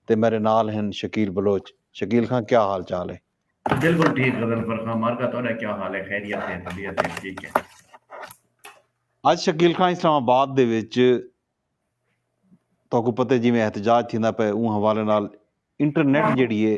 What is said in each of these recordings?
تے میڈے نال ہن شکیل بلوچ۔ شکیل خاں کیا حال چال ہے؟ بلکل ٹھیک غضنفر خاں مارکا تہاڈا کیا حال ہے خیریت ہے طبیعت ہے ٹھیک ہے۔ اج شکیل خاں اسلام آباد دے وچ تہاکوں پتہ ہے جیویں احتجاج تھیندا پئے اوں حوالے نال انٹرنیٹ جیڑھی ہے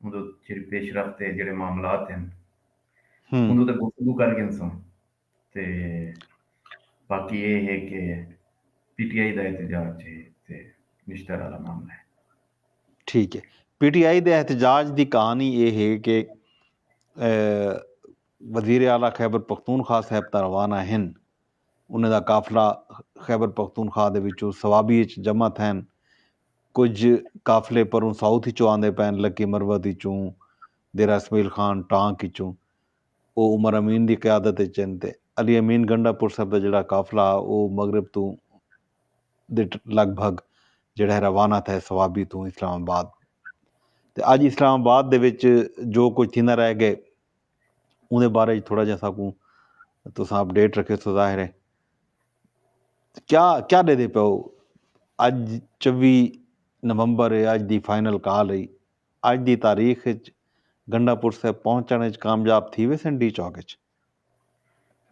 اوندو جیڑھی پیش رفت تے جیڑھے معاملات ہن اوندو تے گفتگو کر گھنسوں تے باقی اے ہے کہ پی ٹی آئی دا احتجاج جے تے نشتر آلا معاملہ ہے۔ ٹھیک ہے پی ٹی آئی دے احتجاج دی کہانی اے ہے کہ وزیر اعلی خیبر پختونخوا صاحب تاں روانہ ہن۔ انھیں دا قافلہ خیبر پختونخوا دے وچوں صوابی اچ جمع تھین۔ کجھ قافلے پروں ساؤتھ اچوں آندے پئین لکی مروت اچوں، دیرہ اسمعیل خان ٹانک اچوں۔ او عمر امین دی قیادت اچ ہن تے علی امین گنڈا پرسر دا جیڑھا قافلہ ہا او مغرب توں دٹ لگ بھگ جیڑھے روانہ تھئے صوابی توں اسلام آباد۔ تے اج اسلام آباد دے وچ جو کجھ تھیندا رہ گئے۔ اوندے بارے وچ تھوڑا جہا ساکوں تساں اپ ڈیٹ رکھے سو ظاہر ہے کیا کیا دے دے پیو اج چوی نومبر ہے اج دی فائنل کال ہے اج دی تاریخ وچ گنڈا پور صاحب پہنچن وچ کامیاب تھی ویسن ڈی چوک وچ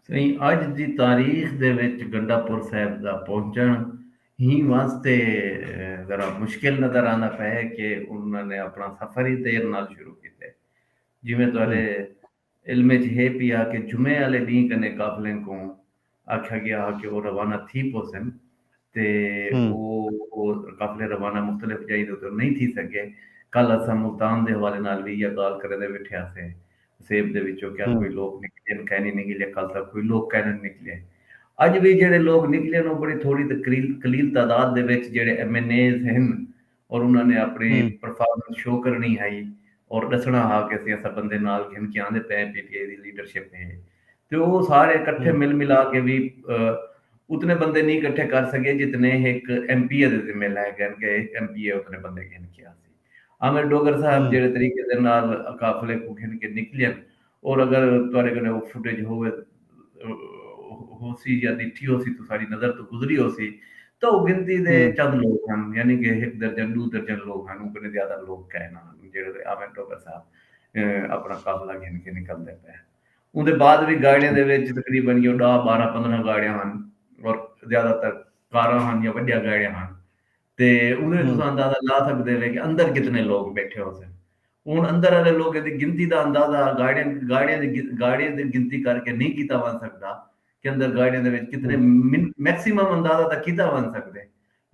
سائیں اج دی تاریخ دے وچ گنڈا پور صاحب دا پہنچن ہی واسطے ذرا مشکل نظر آندا پے کہ انہاں نے اپنا سفر ہی دیر نال شروع کیتے جیویں تہاݙے علم اچ ہے پی آ کہ جمعے آلے ݙینھ کنے قافلیں کوں آکھیا ڳیا ہا کہ او روانہ تھی پوسن تے او او قافلے روانہ مختلف جائیں دے اتوں نئیں تھی سڳے۔ کل اساں ملتان دے حوالے نال وی ایہا ڳالھ کریندے ویٹھے ہاسے۔ حسیب دے وچوں کیا کوئی لوک نکلین کائے نی نکلے کل تاں کوئی لوک کائے نی نکلے۔ اڄ وی جیڑھے لوک نکلین او بڑی تھوڑی تے قلیل تعداد دے وچ جیڑھے ایم این ایز ہن اور انہاں نے اپنڑی پرفارمنس شو کرنڑی ہئی اور ڈسنڑا ہا کہ اسیں اساں بندے نال گھن کے آندے پئے پی ٹی آئی دی لیڈرشپ ہے تے او سارے کٹھے مل ملا کے وی اتنے بندے نی کٹھے کر سکے جتنے ہک ایم پی اے دے ذمے لائے گئے کہ ہک ایم پی اے اتنے بندے گھن کے آسی عامر ڈوگر صاحب جیڑھے طریقے دے نال قافلے کو گھن کے نکلین اور اگر تہاڈے کنے او فوٹیج ہووے ہوسی یا ڈٹھی ہوسی توں ساڈی نظر توں گزری ہوسی تاں او گنتی دے چند لوک ہن یعنی کہ ہک درجن ڈو درجن لوک ہن اوں کنے زیادہ لوک کائے نہ ہن جیڑھے تے آویں ٹوکر صاحب اپنا قافلہ گھن کے نکلدے پئے ہن اوندے بعد وی گاڑیاں دے وچ تقریبا یو ڈاہ بارہ پندرہ گاڑیاں ہن اور زیادہ تر کاراں ہن یا وڈیاں گاڑیاں ہن۔ تے اوہ تساں اندازہ لا سکدے وے کہ اندر کتنے لوگ بیٹھے ہوسن ہن اندر آلے لوگیں دی گنتی دا اندازہ گاڑیاں دی گاڑیاں دی گنتی کر کے نئیں کیتا ونج سکدا کہ اندر گاڑیاں دے وچ کتنے میکسیمم اندازہ تاں کیتا ونج سکدے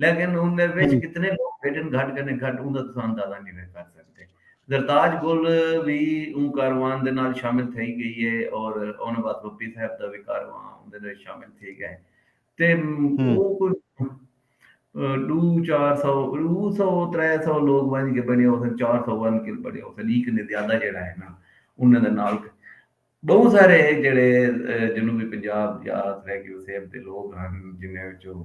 لیکن ان دے وچ کتنے لوگ بیٹھن گھٹ کنے گھٹ اوندا تساں اندازہ نئیں وے کر سکدے زرتاج گل وی اوں کاروان دے نال شامل تھئی گئی ہے اور اوناں بعد بپی صاحب دا وی کاروان اون دے وچ شامل تھی گئے تے او کوئی ڈو چار سو ڈو سو ترے سو لوگ ونج کے بنے ہوسن چار سو ون کے بنے ہوسن ایک نے زیادہ جڑا ہے نا انہاں دے نال بہت سارے جڑے جنوبی پنجاب یا سرے کے وسیب دے لوگ ہن جنہاں وچوں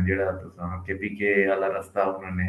جڑا تساں کے پی کے والا رستہ انہاں نے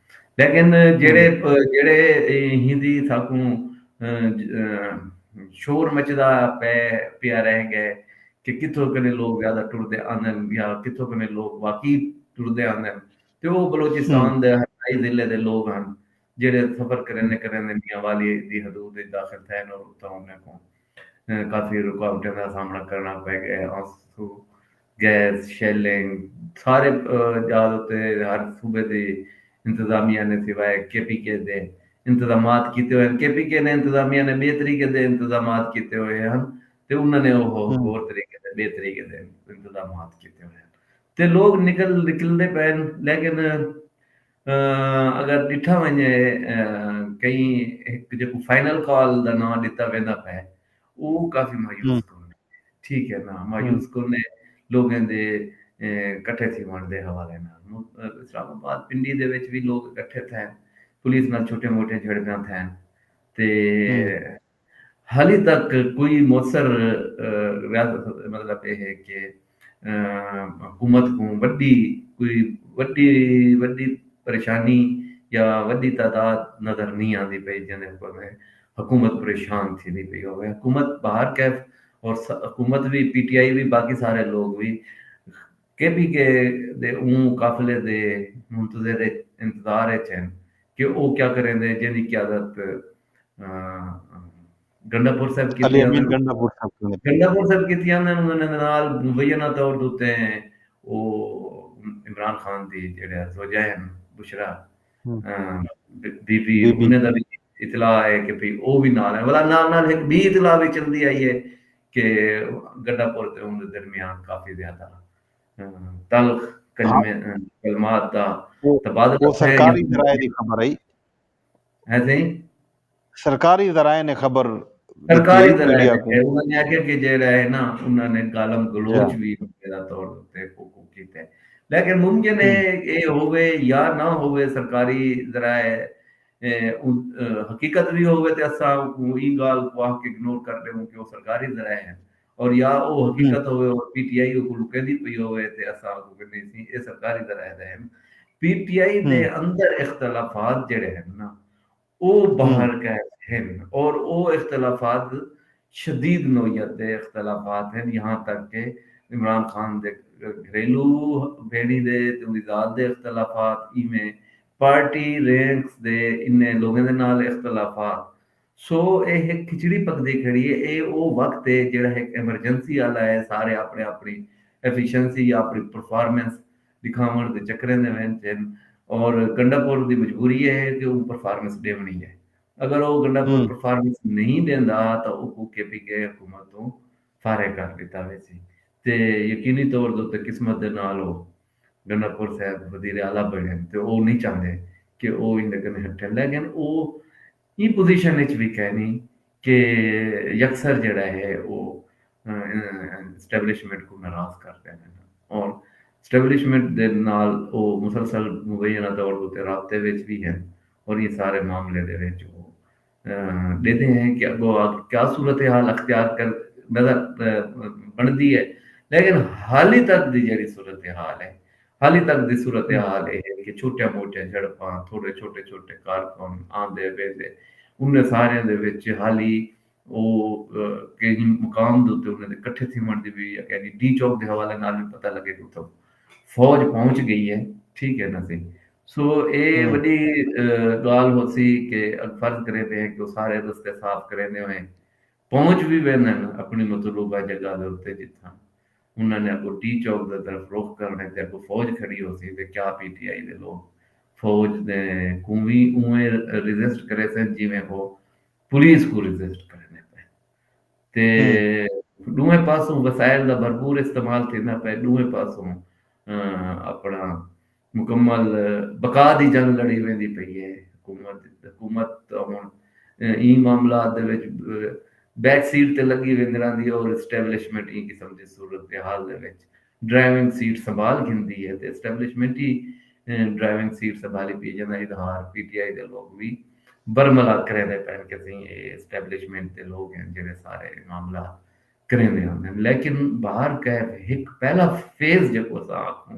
لیکن جیڑھے جیڑھے ہندی ساکوں شور مچدا پے پیا رہ گئے کہ کتھوں کنے لوگ زیادہ ٹردے آندن یا کتھوں کنے لوگ واقعی ٹردے آندن تے او بلوچستان دے ہنڈائی ضلع دے لوگ ہن جیڑھے سفر کریندے کریندے میاں والی دی حدود اچ داخل تھئے ہن اور اتھاں انہاں کوں کافی رکاوٹیں دا سامنا کرݨا پے گئے۔ گیس، شیلنگ سارے ڄال اتے ہر صوبے دی انتظامیہ نے سوائے کے پی کے دے انتظامات کیتے ہوئے ہن۔ کے پی کے نے انتظامیہ نے ٻئے طریقے دے انتظامات کیتے ہوئے ہن تے انہاں نے اوہ ہور طریقے دے ٻئے طریقے دے انتظامات کیتے ہوئے ہن تے لوک نکل نکلدے پئے ہن لیکن اگر ݙٹھا ونڄے کہیں ہک جیکوں فائنل کال دا ناں ݙتا ویندا پئے او کافی مایوس کن ہے۔ ٹھیک ہے نا مایوس کن ہے لوگیں دے کٹھے تھی ونڑ دے حوالے نال۔ اسلام آباد پنڈی دے وچ وی لوگ کٹھے تھئے ہن۔ پولیس نال چھوٹیاں موٹیاں جھڑپیاں تھئے ہن۔ تے حالی تک کوئی موثر مطلب اے ہے کہ حکومت کوں وڈی کوئی وڈی وڈی پریشانی یا وڈی تعداد نظر نی آندی پئی جیندے اوپر حکومت پریشان تھیندی پئی ہووے حکومت بہر کیف اور حکومت وی پی ٹی آئی وی باقی سارے لوگ وی کے پی کے دے اوں قافلے دے منتظر اچ انتظار اچ ہن کہ او کیا کریندے جیندی قیادت گنڈا پور صاحب کیتی علی امین گنڈا پور صاحب کیوں گنڈا پور صاحب کیتی آندے انہوں نے نال مبینہ طور دوتے ہیں او عمران خان دی جڑے زوجہ ہیں بشرا بی بی انہیں دا بھی اطلاع ہے کہ بھی او بھی نال ہیں ولا نال نال ایک بی اطلاع بھی چل دی آئی ہے کہ گنڈا پور تے انہوں نے درمیان کافی زیادہ تلخ کلمات دا تبادلہ سرکاری ذرائع دی خبر ہے ہے سائیں سرکاری ذرائع نے خبر سرکاری ذرائع نے انہاں نے آکھیا کہ جیڑا ہے نا انہاں نے گالم گلوچ وی میرا طور تے کوکو کیتا ہے لیکن ممکن ہے اے ہووے یا نہ ہووے سرکاری ذرائع حقیقت وی ہووے تے اساں ایں گالھ کو آکھ کے اگنور کر ڈیوں کہ او سرکاری ذرائع ہیں اور یا او حقیقت ہووے اور پی ٹی آئی اوکوں لکیندی پئی ہووے تے اساں اوکوں گھنیں سیں اے سرکاری ذرائع دا ہن پی ٹی آئی دے اندر اختلافات جیڑھے ہن نا او باہر کائے ہن اور او اختلافات شدید نوعیت دے اختلافات ہن یہاں تک کہ عمران خان دے گھریلو بھیݨی دے تے اوندی ذات دے اختلافات ایویں پارٹی رینکس دے انہیں لوگیں دے نال اختلافات سو اے ہک کھچڑی پکدی کھڑی اے۔ اے او وقت اے جیڑھا ہک ایمرجنسی آلا اے، سارے آپݨی آپݨی ایفیشنسی یا آپݨی پرفارمنس ݙکھاوݨ دے چکریں دے وچ ہن اور گنڈا پور دی مجبوری اے ہے کہ اوں پرفارمنس ݙیوݨی اے۔ اگر او گنڈا پور پرفارمنس نئیں ݙیندا تاں اوکوں کے پی کے حکومت توں فارغ کر ݙتا ویسی تے یقینی طور دے اتے قسمت دے نال او گنڈا پور صاحب وزیر اعلی بݨن تے او نئیں چاہندے کہ او ایندے کنے ہٹھے لیکن او ایں پوزیشن اچ وی کائنی کہ یکسر جیڑھا ہے او اسٹیبلشمنٹ کوں ناراض کر ڈیون اور اسٹیبلشمنٹ دے نال او مسلسل مبینہ دور اتے رابطے وچ وی ہن اور ایں سارے معاملے دے وچ او ڈیدھے ہیں کہ اگو آگ کیا صورتحال اختیار کر نظر بنڑدی ہے لیکن حالی تک دی جیڑھی صورتحال ہے حالی تک دی صورتحال اے ہے کہ چھوٹیاں موٹیاں جھڑپاں، تھوڑے چھوٹے چھوٹے کارکن آندے ویندے، انھیں ساریاں دے وچ حالی او کہیں مقام دے اتے انھیں دے کٹھے تھیوݨ دی وی یعنی ڈی چوک دے حوالے نال وی پتہ لگے کہ اتھاں فوج پہنچ گئی ہے ٹھیک ہے نا سی سو اے وݙی ڳالھ ہوسی کہ فرض کریندے ہیں کہ او سارے رستے صاف کریندے ہوئیں پہنچ وی ویندن اپنڑی مطلوبہ جگہ دے اتے جتھاں انہاں نے اگو ٹی چوک دے طرف رخ کرنڑے تے اگو فوج کھڑی ہوسی تے کیا پی ٹی آئی دے لوگ فوج دے کوں وی اونویں ریزسٹ کریسن جیویں ہو پولیس کوں ریزسٹ کریندے پئن تے ڈوہیں پاسوں وسائل دا بھرپور استعمال تھیندا پئے ڈوہیں پاسوں اپنڑاں مکمل بقا دی جنگ لڑی ویندی پئی اے۔ حکومت تاں ہݨ ایں معاملات دے وچ بیک سیٹ تے لڳی ویندی رہندی اے اور اسٹیبلشمنٹ ایں قسم دی صورتحال دے وچ ڈرائیونگ سیٹ سنبھال گھندی اے تے اسٹیبلشمنٹ ای ڈرائیونگ سیٹ سنبھالی پئی اے جیندا اظہار پی ٹی آئی دے لوک وی برملا کریندے پئن کہ سئیں اے اسٹیبلشمنٹ دے لوک ہن جیڑھے سارے معاملات کریندے ہوندن۔ لیکن بہر کیف ہک پہلا فیز جیکوں اساں آکھوں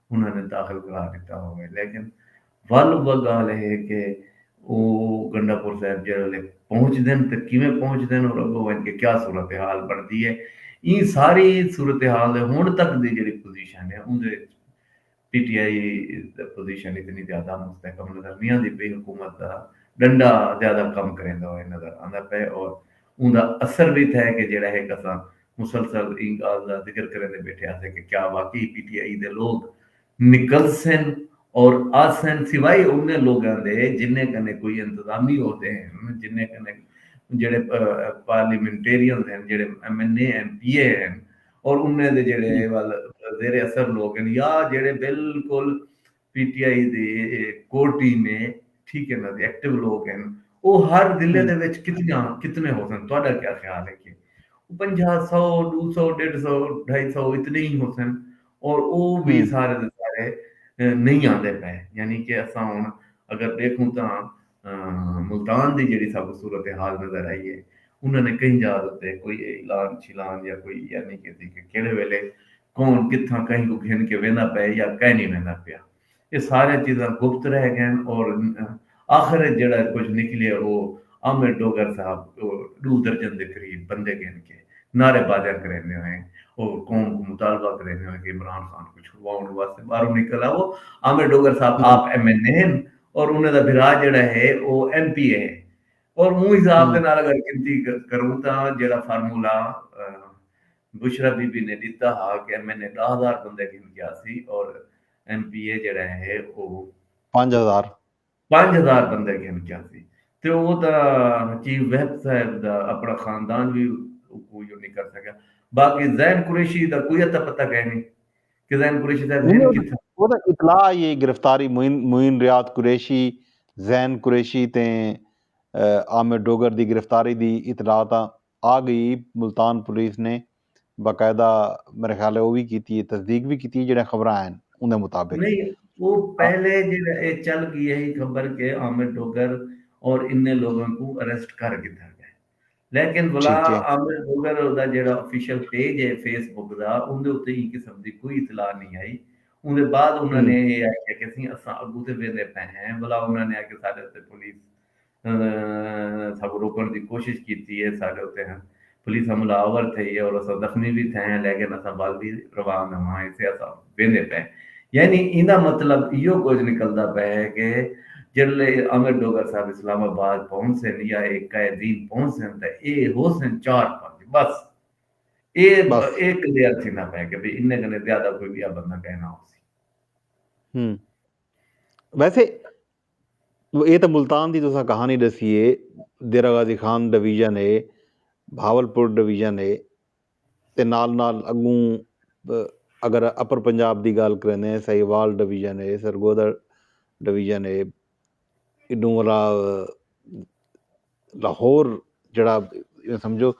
انہاں نے داخل کرا ݙتا ہووے لیکن ول اوہ ڳالھ ہے کہ او گنڈا پور صاحب جیڑھے ویلے پہنچدن تے کیویں پہنچدن اور اڳوں ونڄ کے کیا صورتحال بݨدی ہے ایں ساری صورتحال دے ہݨ تک دی جیڑھی پوزیشن ہے اوندے وچ پی ٹی آئی دی پوزیشن اتنی زیادہ مستحکم نظر نی آندی پئی حکومت دا ݙنڈا زیادہ کم کریندا ہوئے نظر آندا پئے اور اوندا اثر وی تھئے کہ جیڑھا ہک اساں مسلسل ایں گالھ دا ذکر کریندے بیٹھے آسے کہ کیا واقعی پی ٹی آئی دے لوگ نکلسن اور آسن سوائے انہیں لوگاں دے جنہیں کنے کوئی انتظامی عہدے ہن جنہیں کنے جیڑھے پارلیمنٹیرینز ہن جیڑھے M N A M P A ہن اور انہیں دے جیڑھے وال زیر اثر لوگ ہن یا جیڑھے بالکل پی ٹی آئی دی کور ٹیم ہے ٹھیک ہے انہاں دے ایکٹیو لوگ ہن او ہر ضلع دے وچ کتنیاں کتنے ہوسن تہاڈا کیا خیال ہے کہ پنجاہ سو ڈو سو ڈیڈھ سو ڈھائی سو اتنے ہی ہوسن اور او وی سارے دے سارے نہیں آندے پئے یعنی کہ اساں ہن اگر دیکھوں تاں ملتان دی جیڑھی ساکوں صورتحال نظر آئی ہے انہاں نے کہیں جاہ اتے کوئی اعلان شیلان یا کوئی ایہہ نی کیتی کہ کیہڑے ویلے کون کتھاں کہیں کوں گھن کے ویندا پئے یا کائنی ویندا پیا۔ ایہہ ساریاں چیزاں گپت رہ گئین اور آخر اچ جیڑھا کجھ نکلیا او عامر ڈوگر صاحب ڈو درجن دے قریب بندے گھن کے نعرے بازیاں کریندے ہوئے او قوم کوں مطالبہ کریندے ہوئے کہ عمران خان کوں چھڑواؤنڑ واسطے باہروں نکل آؤ۔ عامر ڈوگر صاحب آپ ایم این اے ہن اور انہیں دا بھرا جیڑا ہے او ایم پی اے ہے اور اوں حساب دے نال اگر گنتی کروں تاں جیڑا فارمولا بشرا بی بی نے ڈتا ہا کہ ایم این اے ڈاہ ہزار بندے گھن کے آسی اور ایم پی اے جیڑا ہے او پنج ہزار پنج ہزار بندے گھن کے آسی تے او تاں چیف وہب صاحب دا اپنا خاندان وی کوئی نہیں کر سکیا باقی زین قریشی دا کوئی اتا پتا کہنی کزین قریشی صاحب ہن کتھاں؟ او تاں اطلاع آئی اے گرفتاری معین ریاض قریشی، زین قریشی تے عامر ڈوگر دی گرفتاری دی اطلاع تاں آ گئی اے، ملتان پولیس نے باقاعدہ میرے خیال اے او وی کیتی اے تصدیق وی کیتی اے جیڑھیاں خبراں ہن اوندے مطابق۔ نہیں او پہلے جیڑھا اے چل گئی ہئی خبر کہ عامر ڈوگر اور انھیں لوگاں کوں اریسٹ کر گھدا ڳئے۔ لیکن بلا عامر بگل دا جیڑھا آفیشل پیج ہے فیس بک دا اوندے اتے ایں قسم دی کوئی اطلاع نی ہئی اوندے بعد انہاں نے اے آکھیا کہ اسی اساں اگو تے ویندے پئے ہیں بلا انہاں نے آکھیا ساڈے اتے پولیس ساکوں روکن دی کوشش کیتی ہے ساڈے اتے پولیس حملہ آور تھئی ہے اور اساں زخمی وی تھئے ہیں لیکن اساں ول وی روان ہوواں گے۔ ویندے پئے یعنی ایندا مطلب ایہو کجھ نکلدا پئے ہے کہ جڈلے امر ڈوگر صاحب اسلام آباد پہنچسن یا اے قائے دین پہنچسن تاں اے ہوسن چار پنج بس اے اے کلیئر تھیندا پئے کہ بھئی انہیں کنے زیادہ کوئی بیا بندہ کہیں نہ ہوسی ہم ویسے اے تاں ملتان دی تساں کہانی ڈسیے دیرہ غازی خان ڈویژن اے بھاول پور ڈویژن اے تے نال نال اڳوں اگر اپر پنجاب دی ڳالھ کریندے ہیں سہیوال ڈویژن ہے سرگودھا ڈویژن ہے ایݙوں والا لاہور جیڑھا ایویں سمجھو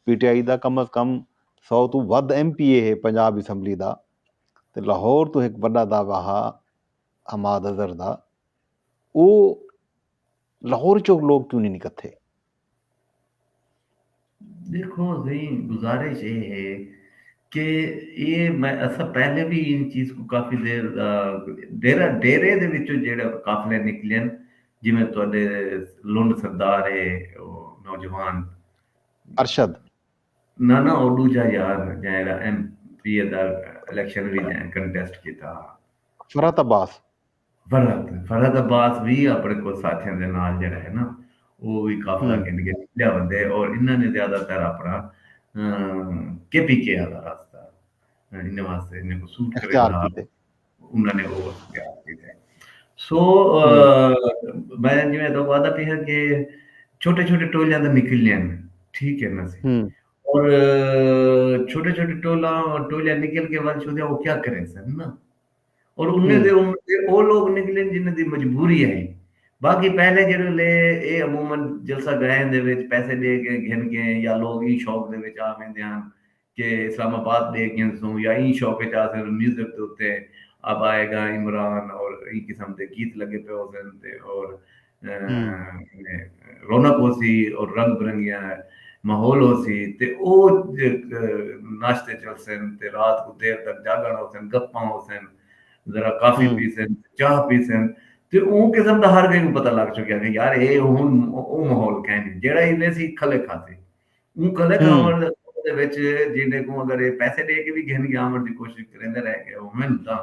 پی ٹی آئی دا کم از کم سو توں ودھ ایم پی اے ہے پنجاب اسمبلی دا تے لاہور توں ہک وݙا دعویٰ ہا حماد اظہر دا او لاہور چوں لوک کیوں نی نکتھے دیکھو زئی گزارش اے ہے کہ اے میں اسا پہلے بھی ان چیز کو کافی دیر ڈیرہ ڈیرے دے وچوں جیڑا قافلے نکلن جویں تہاڈے لنڈ سردار ہے نوجوان ارشد نہ نہ او دوجا یار جیڑا ایم پی اے دا الیکشن وچ کنٹیسٹ کیتا فرحت عباس فرحت فرحت عباس وی اپݨے کجھ ساتھیاں دے نال جیڑھا ہے نا او وی قافلہ گھن کے نکلیا ویندے اور انہاں نے زیادہ تر اپݨا کے پی کے آلا راستہ انہاں واسطے انہاں کو سوٹ کرے گا انہاں نے او اختیار کیتے ہیں سو میں جویں تو وعدہ پیا کہ چھوٹے چھوٹے ٹولیاں تے نکلنے ہیں ٹھیک ہے نا سی اور چھوٹے چھوٹے ٹولا ٹولیاں نکل کے ول چھوڑیا وہ کیا کریں سن نا اور انھیں دے عمر دے او لوگ نکلن جنھیں دی مجبوری ہئی۔ باقی پہلے جیڑھے لے اے عموما جلسہ گائیں دے وچ پیسے ڈے کے گھن گئیں یا لوگ ایں شوق دے وچ آ ویندے ہن کہ اسلام آباد ڈے گھنسوں یا ایں شوق وچ آ سن میوزک دے اتے اب آئے گا عمران اور ایں قسم دے گیت لگے پے ہوسن تے اور رونق ہوسی اور رنگ برنگیاں ماحول ہوسی تے او ناشتے چلسن تے رات کوں دیر تک جاگن ہوسن گپاں ہوسن ذرا کافی پیسن چاہ پیسن تے او قسم دا ہر کہیں کوں پتہ لگ چکیا کہ یار اے ہن او ماحول کہیں نہیں جیڑا ہی ویسی کھلے کھاتے اوں کھلے کھاون دے وچ جیندے کوں اگر اے پیسے دے کے وی گھن گیا ہمن دی کوشش کریندے رہ گئے ہمن تاں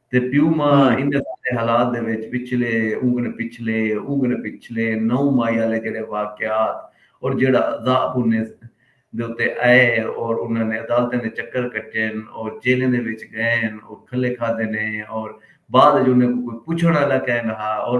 تے پیو ماء انھیں سارے حالات دے وچ وچلے اونگن پچھلے اونگن پچھلے نو مائی آلے جیڑھے واقعات اور جیڑھا عذاب انھیں دے اتے آئے اور انھاں نے عدالتیں دے چکر کٹین اور جیلیں دے وچ گئین اور کھلے کھادے نے اور بعد وچ انھیں کوں کوئی پچھن آلا کائے نہ ہا اور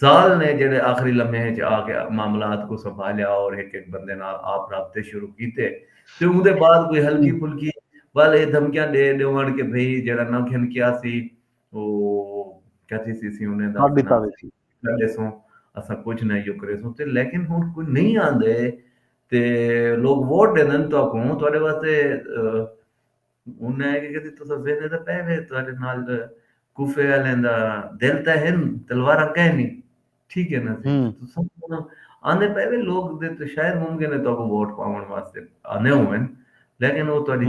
زال نے جیڑھے آخری لمحے اچ آ کے معاملات کوں سنبھالیا اور ہک ہک بندے نال آپ رابطے شروع کیتے تے اوندے بعد کوئی ہلکی پھلکی ول ایہ دھمکیاں ڈے ڈیونڑ کے بھئی جیڑھا نہ گھن کیا سی او کیا تھیسی اسی انہیں دا کر ڈتا ویسی۔ کر ڈیسوں اساں کچھ نہ ایو کریسوں تے لیکن ہن کوئی نہیں آندے تے لوگ ووٹ ڈیندن تہاکوں تہاڈے واسطے ہن اے کہ کدی تساں ذہن اچ تاں پئے وے تہاڈے نال کوفے آلیاں دا دل تاں ہن تلواراں کینی ٹھیک اے نا جی تساں آندے پئے وے لوگ دے تاں شاید ممکن اے تہاکوں ووٹ پاون واسطے آندے ہوون لیکن او تہاڈی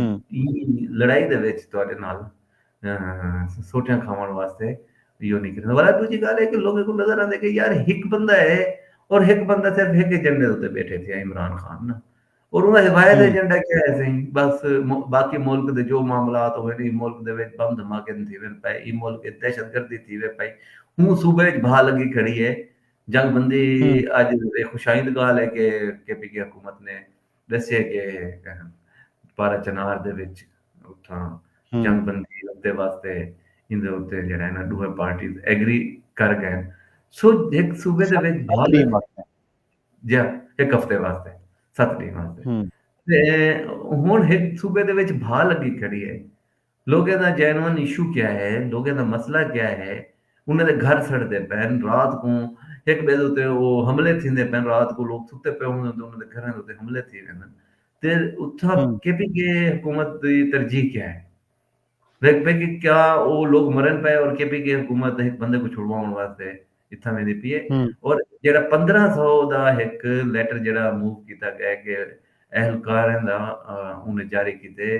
لڑائی دے وچ تہاڈے نال سوٹیاں کھاون واسطے یو نی کریندے ولا دوجی گالھ اے کہ لوگاں کوں نظر آندے کہ یار ہک بندہ اے اور ہک بندہ صرف ہک ایجنڈے اتے بیٹھے تھیا عمران خان نا۔ اور انہاں ہدایت ایجنڈا کیا ہے سائیں بس باقی ملک دے جو معاملات ہوئے نہیں ملک دے وچ بم دھماکے تھی وین پے ای ملک وچ دہشت گردی تھی وے پئی ہوں صوبے وچ بھا لگی کھڑی ہے جنگ بندی اج خوشائند گال ہے کہ کے پی کے حکومت نے دسیا کہ پارا چنار دے وچ اتھاں جنگ بندی دے واسطے ان دے اوتے جڑا ہے نا دوہ پارٹیز ایگری کر گئے سو ایک صوبے دے وچ بھا لگی جیہاں ہک ہفتے واسطے ست ڈینھ واسطے تے ہن ہک صوبے دے وچ بھا لگی کھڑی ہے لوگیں دا جینون ایشو کیا ہے لوگیں دا مسئلہ کیا ہے انہاں دے گھر سڑدے پین رات کوں ہک ٻئے دے اتے او حملے تھیندے پین رات کو لوگ ستے پئے ہوندن تے انہاں دے گھراں دے اتے حملے تھی ویندن تے اتھاں کے پی کے حکومت دی ترجیح کیا ہے ویکھ پئے کہ کیا او لوک مرن پئے اور کے پی کے حکومت ہک بندے کوں چھڑواون واسطے اتھاں ویندی پی اے اور جیڑھا پندرہ سو دا ہک لیٹر جیڑھا موو کیتا گئے کہ اہلکاراں دا انہیں جاری کیتے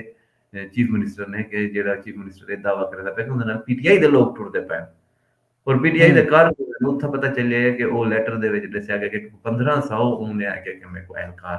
چیف منسٹر نے کہ جیڑھا چیف منسٹر اے دعوی کریندا پئے کہ اوندے نال پی ٹی آئی دے لوک ٹردے پئے اور پی ٹی آئی دے کارکن نوں اتھاں پتہ چلیا کہ او لیٹر دے وچ ڈسیا گئے کہ پندرہ سو انہیں آکھیا کہ میکوں اہلکار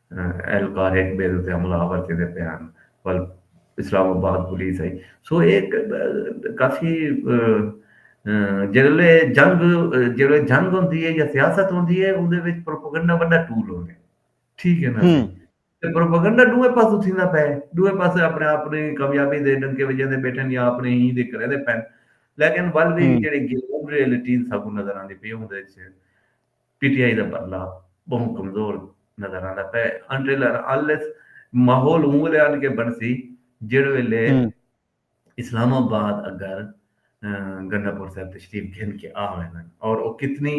اہل کار ہک ٻئے دے اتے حملہ آور تھیندے پئے ہن ول اسلام آباد پولیس آئی سو اے کافی جیڑلے جنگ جیڑلے جنگ ہوندی ہے یا سیاست ہوندی ہے اوندے وچ پروپیگنڈا وڈا ٹول ہوندے ٹھیک ہے نا جی تے پروپیگنڈا ڈوے پاسوں تھیندا پے ڈوے پاسے اپنے اپنی کامیابی دے ڈنکے وجیندے بیٹھن یا اپنے ہی دے کرے دے پن لیکن ول وی جیڑی گراؤنڈ ریئلٹی ساکوں نظر آندی پی اوندے وچ پی ٹی آئی دا بھرلا بہوں کمزور نظر آندا پئے انٹل ان انلیس ماحول اوں ویلے آن کے بنسی جیڑھے ویلے اسلام آباد اگر گنڈا پور صاحب تشریف گھن کے آ ویندن اور او کتنی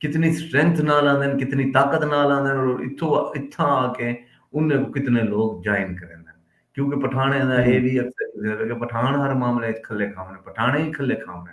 کتنی سٹرینتھ نال آندن کتنی طاقت نال آندن اور اتھوں اتھاں آ کے انہیں کو کتنے لوگ جوائن کریندن کیونکہ پٹھانے دا اے وی اکثر پٹھان ہر معاملے وچ کھلے کھاونے پٹھانے ہی کھلے کھاونے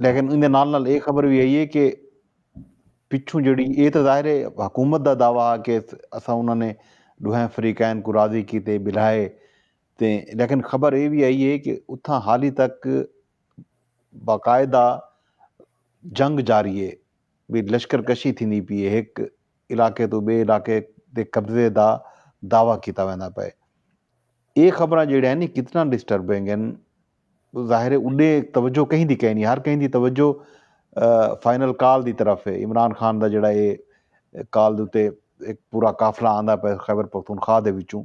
لیکن ایندے نال نال اے خبر وی آئی اے کہ پچھوں جیڑھی اے تاں ظاہر اے حکومت دا دعوی ہا کہ اساں انہاں نے ڈوہیں فریقین کوں راضی کیتے بلھائے تے لیکن خبر اے وی آئی اے کہ اتھاں حالی تک باقاعدہ جنگ جاری اے وی لشکر کشی تھیندی پی اے ہک علاقے توں بئے علاقے دے قبضے دا دعوی کیتا ویندا پئے اے خبراں جیڑھیاں نی کتنا ڈسٹربنگ ہن۔ ظاہر ہے اݙے توجہ کہیں دی کینی ہر کہیں دی توجہ فائنل کال دی طرف ہے عمران خان دا جیڑھا اے کال دے اتے ہک پورا قافلہ آندا پئے خیبر پختونخوا دے وچوں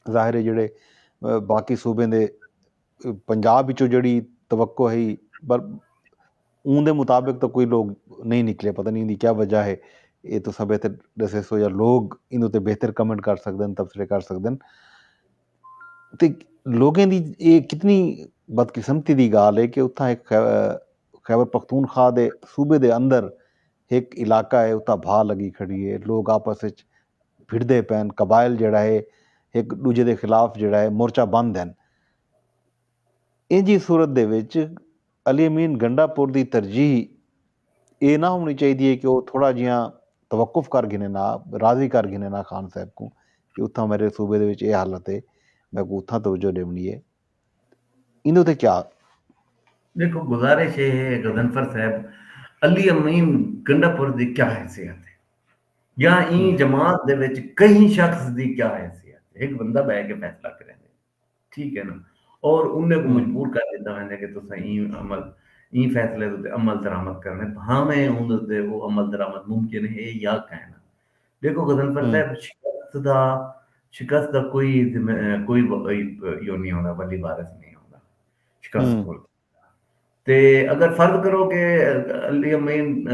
ظاہر ہے جیڑھے باقی صوبیں دے پنجاب وچوں جیڑھی توقع ہئی پر اوں دے مطابق تو کوئی لوگ نہیں نکلے پتہ نہیں دی کیا وجہ ہے اے تو سب ایتھے ڈسیسو یا لوگ ایندے تے بہتر کمنٹ کر سکدن تبصرے کر سکدن تے لوگیں دی اے کتنی بدقسمتی دی گالھ اے کہ اتھاں ہک خیبر پختونخوا دے صوبے دے اندر ہک علاقہ اے اتھاں بھاہ لگی کھڑی اے لوگ آپس اچ بھڑدے پئن قبائل جیڑھا اے ہک ڈوجھے دے خلاف جیڑھا اے مورچہ بند ہن اینجھی صورت دے وچ علی امین گنڈا پور دی ترجیح اے نہ ہونڑی چاہیدی ہے کہ او تھوڑا جیہاں توقف کر گھنن آ راضی کر گھنن آ خان صاحب کوں کہ اتھاں میڈے صوبے دے وچ اے حالت ہے میکوں اتھاں توجہ ڈیونڑی ہے ایندے اتے کیا ڈیکھو گزارش اے ہے غضنفر صاحب علی امین گنڈا پور دی کیا حیثیت ہے یا ایں جماعت دے وچ کہیں شخص دی کیا حیثیت ہے ہک بندہ بہ کے فیصلہ کریندے۔ ٹھیک ہے نا اور انہیں کو مجبور کر دیتا ویندے کہ تساں ایں عمل ایں فیصلے دے اتے عمل درآمد کرنے بھاویں اوندے اتے او عمل درآمد ممکن ہے یا کائنا دیکھو غضنفر صاحب شکست دا شکست دا کوئی کوئی ایو نہیں ہوندا ولی وارث نہیں ہوندا شکست کول تے اگر فرض کرو کہ علی امین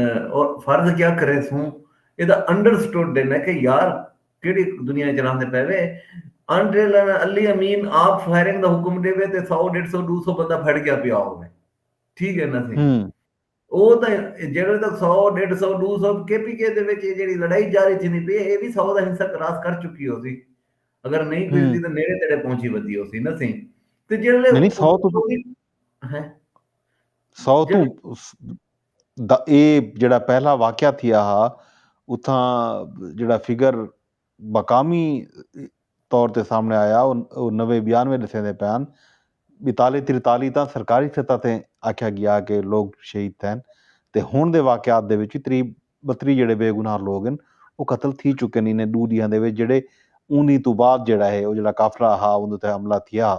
فرض کیا کرے سوں ایدا انڈرسٹوڈ دین ہے کہ یار کیڑی دنیا اچ راہندے پے وے انٹل علی امین آپ فائرنگ دا حکم دے وے تے سو ڈیڑھ سو دو سو بندہ بھڑ گیا پیا ہوے ٹھیک ہے نا سی او تاں جیڑھے تک سو، ڈیڈھ سو، ڈو سو کے پی کے دے وچ اے جیڑھی لڑائی جاری تھیندی پئی اے اے وی سو دا حصہ کراس کر چکی ہوسی اگر نئیں پجدی تاں نیڑے تیڑے پہنچی ودی ہوسی نہ سئیں تے جیڑھے نہیں سو تو سو تو دا اے جیڑھا پہلا واقعہ تھیا ہا اتھاں جیڑھا فگر مقامی طور تے سامݨے آیا او نوے بیانوے ݙسیندے پئے ہن۔ ٻتالی تریتالی تاں سرکاری سطح تے آکھیا ڳیا کہ لوک شہید تھئن تے ہݨ دے واقعات دے وچ وی تریہہ ٻتریہہ جیڑھے بے گناہ لوک ہن او قتل تھی چکے ہن انہیں ݙو ݙینہاں دے وچ جیڑھے اوندی توں بعد جیڑھا ہے او جیڑھا قافلہ ہا اوندے تے حملہ تھیا ہا۔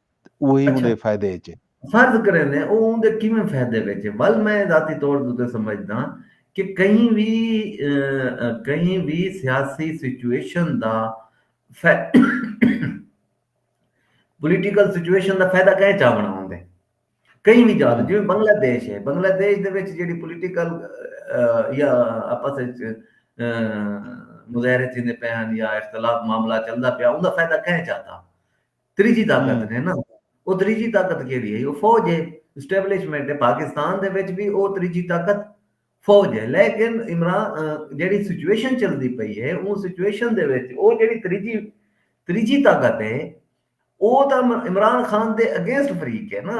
تے اوہی اوندے فائدے اچ اے۔ فرض کریندے او اوندے کیویں فائدے وچ اے ول میں ذاتی طور تے اتے سمجھداں کہ کہیں وی کہیں وی سیاسی situation the political situation the فائدہ کئیں چاونڑاں ہوندے کہیں وی جاہ دا جیویں بنگلہ دیش اے بنگلہ دیش دے وچ جیڑھی پولیٹیکل یا آپس اچ مظاہرے تھیندے پئے ہن یا اختلاف معاملہ چلدا پیا اوندا فائدہ کئیں چاتا تریجھی طاقت ہے نا او تریجھی طاقت کیڑی ہے او فوج ہے اسٹیبلشمنٹ ہے پاکستان دے وچ بھی او تریجھی طاقت فوج ہے لیکن عمران جیڑی سچویشن چلدی پئی ہے اون سچویشن دے وچ او جیڑی تریجھی تریجھی طاقت ہے او تاں عمران خان دے اگینسٹ فریق ہے نا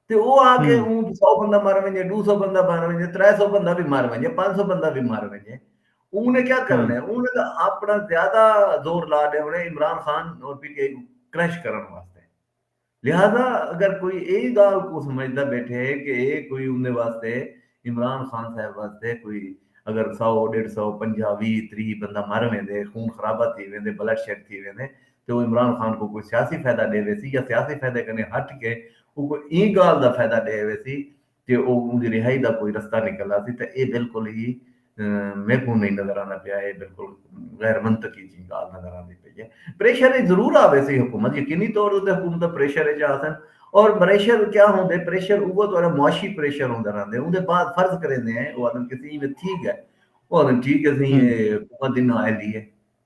تے او آ کے اوں اچ سو بندہ مر ونجے ڈو سو بندہ مر ونجے ترے سو بندہ وی مر ونجے پنج سو بندہ وی مر ونجے اوں نے کیا کرݨ اے اوں نے تاں اپݨا زیادہ زور لا ݙیوݨ اے عمران خان اور پی ٹی آئی کوں کرش کرݨ واسطے لہذا اگر کوئی اے گالھ کوں سمجھدا بیٹھے کہ اے کوئی اوندے واسطے عمران خان صاحب واسطے کوئی اگر سو ݙیڈھ سو پنجاہ ویہہ تریہہ بندہ مر ویندے خون خرابہ تھی ویندے بلڈ شیڈ تھی ویندے تے او عمران خان کوں کوئی سیاسی فیدہ ڈے ویسی یا سیاسی فیدے کنیں ہٹ کے اوکوں ایں گالھ دا فیدہ ڈے ویسی کہ او اوندی رہائی دا کوئی رستہ نکل آسی تاں اے بالکل ہی میکوں نہیں نظر آندا پیا اے بالکل غیر منطقی جیں گالھ نظر آندی پئی اے۔ پریشر اچ ضرور آ ویسی حکومت یقینی طور اتے حکومتاں پریشر اچ آسن اور پریشر کیا ہوندے پریشر اوہ تہاڈا معاشی پریشر ہوندا رہندے اوندے بعد فرض کریندے ہیں او آکھن کسی ایویں تھی گئے او آکھن ٹھیک اے سئیں اے حکومت دی نااہلی اے۔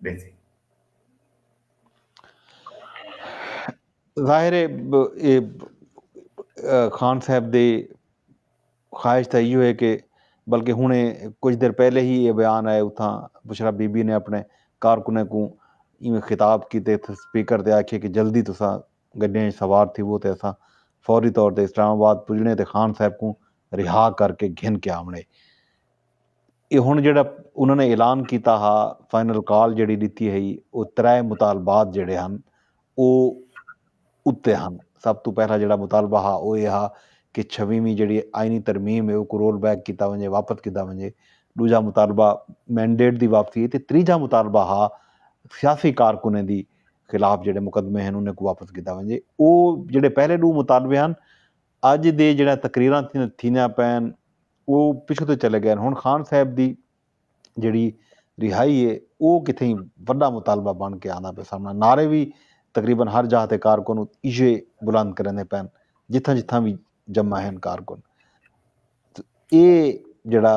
ڈیسی۔ ظاہر ہے اے خان صاحب دی خواہش تاں ایہو ہے کہ بلکہ ہن کچھ دیر پہلے ہی اے بیان آئے اتھاں بشرا بی بی نے اپنے کارکنیں کوں ایویں خطاب کیتے تھے سپیکر تے آکھیے کہ جلدی تساں گڈیاں اچ سوار تھیوو تے اساں فوری طور تے اسلام آباد پجنے تے خان صاحب کوں رہا کر کے گھن کے آونے۔ اے ہݨ جیڑھا انہاں نے اعلان کیتا ہا فائنل کال جیڑھی ݙتی ہئی او ترے مطالبات جیڑھے ہن او اتے ہن سب توں پہلا جیڑھا مطالبہ ہا او اے ہا کہ چھویں ویں جیڑھی آئینی ترمیم اے اوکوں رول بیک کیتا ونجے واپس کیتا ونجے ݙوجھا مطالبہ مینڈیٹ دی واپسی اے تے تریجھا مطالبہ ہا سیاسی کارکنیں دی خلاف جیڑھے مقدمے ہن انہیں کوں واپس کیتا ونجے او جیڑھے پہلے ݙو مطالبے ہن اج دے جیڑھیاں تقریراں تھیندیاں پئن او پچھوں تے چلے گئن ہن خان صاحب دی جیڑھی رہائی اے او کتھیں وڈا مطالبہ بن کے آندا پئے سامنڑاں نعرے وی تقریبا ہر جاہ تے کارکن ایجھے بلند کریندے پئن جتھاں جتھاں وی جمع ہن کارکن تے اے جیڑھا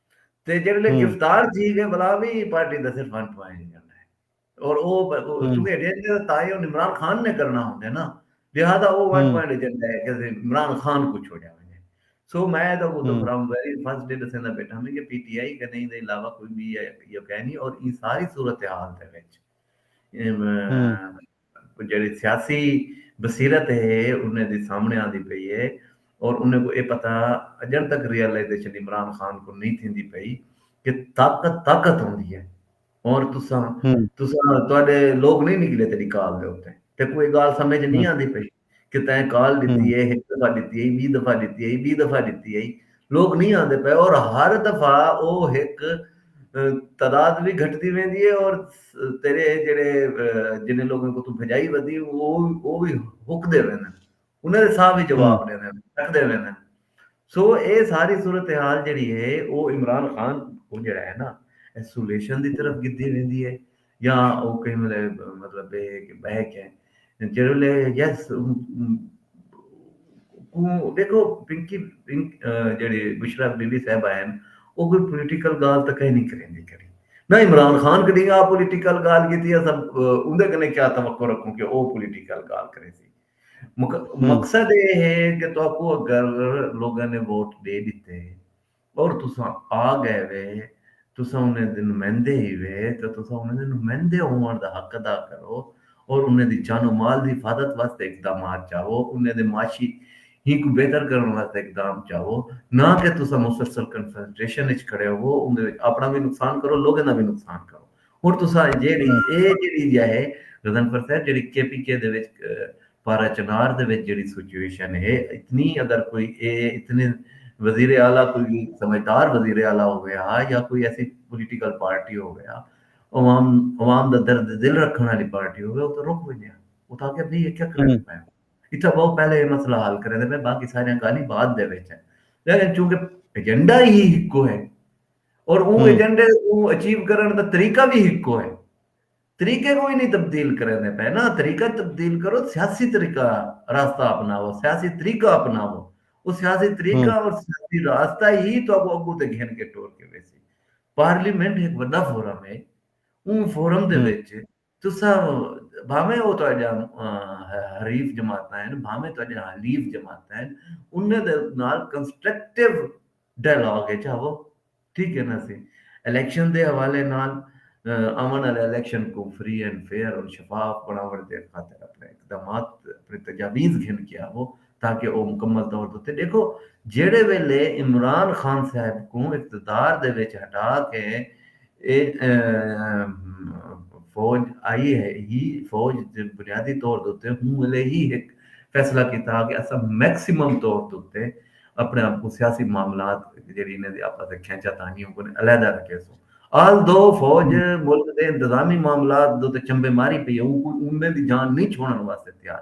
تے جڑے لے گرفتار تھی گئے بلا بھی پارٹی دا صرف ہن پوائنٹ کرنا ہے اور او چونکہ ایڈین دے تائی اور عمران خان نے کرنا ہوندے نا لہذا او ون پوائنٹ ایجنڈا ہے کہ عمران خان کو چھوڑیا ہوئے سو میں دا وہ تو فرام ویری فرسٹ ڈے دسے دا بیٹھا میں کہ پی ٹی آئی کنے دے علاوہ کوئی بھی یہ کہنی اور یہ ساری صورتحال دے وچ کوں جیڑھی سیاسی بصیرت ہے انہیں دی سامنے آندی پئی ہے اور انہیں کوں اے پتہ اجݨ تک ریئلائزیشن عمران خان کوں نئیں تھیندی پئی کہ طاقت طاقت ہوندی ہے اور تساں تساں تہاڈے لوک نئیں نکلے تیڈی کال دے اتے تیکوں اے گال سمجھ نئیں آندی پئی۔ کہ تیں کال ڈتی ہے ہک دفعہ ڈتی ہئی بی دفعہ ڈتی ہئی بی دفعہ ڈتی ہئی لوگ نہیں آندے پئے اور ہر دفعہ او ہک تعداد بھی گھٹتی ویندی ہے اور تیرے جڑے جنہیں لوگوں کو تو بھجائی ودی وہ وہ بھی ہک دے ویندے انہاں دے ساہ بھی جواب ڈیندے رکھ دے ویندے سو اے ساری صورتحال جیڑھی ہے او عمران خان کوں جیڑھا ہے نا ایسولیشن دی طرف گھدی ویندی ہے یا او کہیں ویلے مطلب اے ہے کہ بہک ہے جیڑھے ویلے یس کوں دیکھو پنکی جیڑھی بشرا بی بی صاحب آئے او کوئی پولیٹیکل گال تک ہی نہیں کریندی کری نہ عمران خان کدی آ پولیٹیکل گال کیتی ہے سب اوندے کنے کیا توقع رکھوں کہ او پولیٹیکل گال کرے سی مقصد اے ہے کہ تہاکوں اگر لوگاں نے ووٹ ڈے ڈتے اور تساں آ گئے وے تساں انہاں دے نمائندے ہیوے تاں تساں انہاں دے نمائندے ہووݨ دا حق ادا کرو اور انہاں دی جان و مال دی حفاظت واسطے اقدامات چاؤ انہاں دے معاشی ہی کوں بہتر کرݨ واسطے اقدام چاؤ نہ کہ تساں مسلسل کنفرنٹریشن اچ کھڑے ہووو اوندے وچ اپݨا وی نقصان کرو لوگاں دا وی نقصان کرو۔ ہݨ تساں جیڑھی اے جیڑھی جا ہے غضنفر صاحب جیڑھی کے پی کے دے وچ پارہ چنار دے وچ جیڑھی سچویشن ہے اتنی اگر کوئی اے اتنے وزیر اعلی کوئی وی سمجھدار وزیر اعلی ہووے ہا یا کوئی ایسی پولیٹیکل پارٹی ہووے ہا عوام عوام دا درد دل رکھݨ آلی پارٹی ہووے او تاں رک ونڄے ہا او تاں آکھے بھئی اے کیا کریندے پئے ہو اتھاں بہو پہلے اے مسئلہ حل کریندے پئے باقی ساریاں ڳالھیں بعد دے وچ ہن لیکن چونکہ ایجنڈا ہی ہکو ہے اور اوں ایجنڈے کوں اچیو کرݨ دا طریقہ وی ہکو ہے۔ طریقے کوں وی نی تبدیل کریندے پئے نا، طریقہ تبدیل کرو، سیاسی طریقہ راستہ اپناؤ، سیاسی طریقہ اپناؤ۔ او سیاسی طریقہ اور سیاسی راستہ ای تہاکوں اڳوں تے گھن کے ٹور کے ویسی۔ پارلیمنٹ ہک وݙا فورم ہے، اوں فورم دے وچ تساں بھانویں او تہاݙیاں حریف جماعتاں ہن بھانویں تہاݙیاں حلیف جماعتاں ہن انہاں دے نال کنسٹرکٹیو ڈائیلاگ اچ آوو ٹھیک ہے نا اسی الیکشن دے حوالے نال آوݨ آلے الیکشن کوں فری اینڈ فیئر اور شفاف بݨاوݨ دے خاطر اپݨے اقدامات اپݨے تجاویز گھن کے آوو۔ تاکہ او مکمل طور تے اتے ڈیکھو جیڑھے ویلے عمران خان صاحب کوں اقتدار دے وچ ہٹا کے اے فوج آئی ہئی فوج بنیادی طور تے اتے ہوں ویلے ہی ہک فیصلہ کیتا ہا کہ اساں میکسیمم طور تے اتے اپنے آپ کوں سیاسی معاملات جیڑھی انہاں دی آپس دے کھینچا تانیوں کوں علیحدہ رکھیسوں آل دو فوج ملک دے انتظامی معاملات دے اتے چمبے ماری پئی ہے اوں کوئی اوندے دی جان نہیں چھوڑن واسطے تیار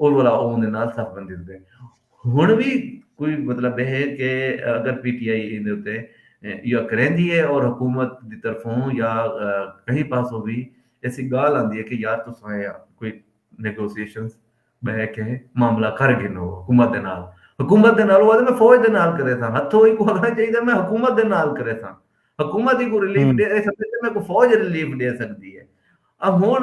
اور ولا اون دے نال صف بندی تے ہن وی کوئی مطلب ہے کہ اگر پی ٹی آئی ایندے اتے یا کریندی ہے اور حکومت دی طرفوں یا کہیں پاسوں وی ایسی گال آندی ہے کہ یار تساں کوئی نیگوسیشنز بہ کے معاملہ کر گھنو حکومت دے نال حکومت دے نال وہ میں فوج دے نال کرے تھا ہتھو ہی کو آگنا چاہیے میں حکومت دے نال کرے تھا حکومت ہی کو ریلیف دے سکتے میں کو فوج ریلیف دے سکتی ہے اب ہون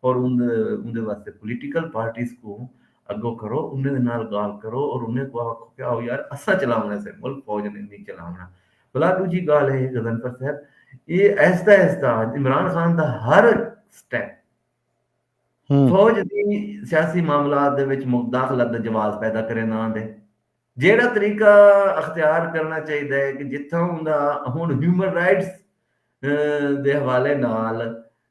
اور اوندے واسطے پولیٹیکل پارٹیز کوں اگو کرو انہیں دے نال گالھ کرو اور انہیں کوں آکھو کہ آؤ یار اساں چلاونے سے ملک فوج نے نی چلاونا بلا ڈوجی گالھ اے غضنفر صاحب اے اہستہ اہستہ عمران خان دا ہر سٹیپ فوج دی سیاسی معاملات دے وچ مداخلت دا جواز پیدا کریندا آندے۔ جیڑھا طریقہ اختیار کرݨا چاہیدا ہے کہ جتھاں اوندا ہݨ ہیومن رائٹس دے حوالے نال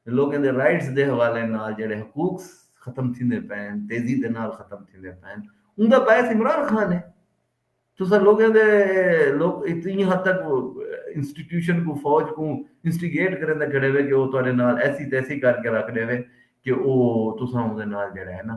لوکیں دے رائٹس دے حوالے نال جیڑھے حقوق ختم تھیندے پئن تیزی دے نال ختم تھیندے پئن اوندا باعث عمران خان ہے تساں لوکیں دے لوک اتنی حد تک انسٹیٹیوشن کو فوج کو انسٹیگیٹ کریندے کھڑے وے کہ او تہاڈے نال ایسی تیسی کر کے رکھ ڈیوے کہ او تساں اودے نال جیڑھا ہے نا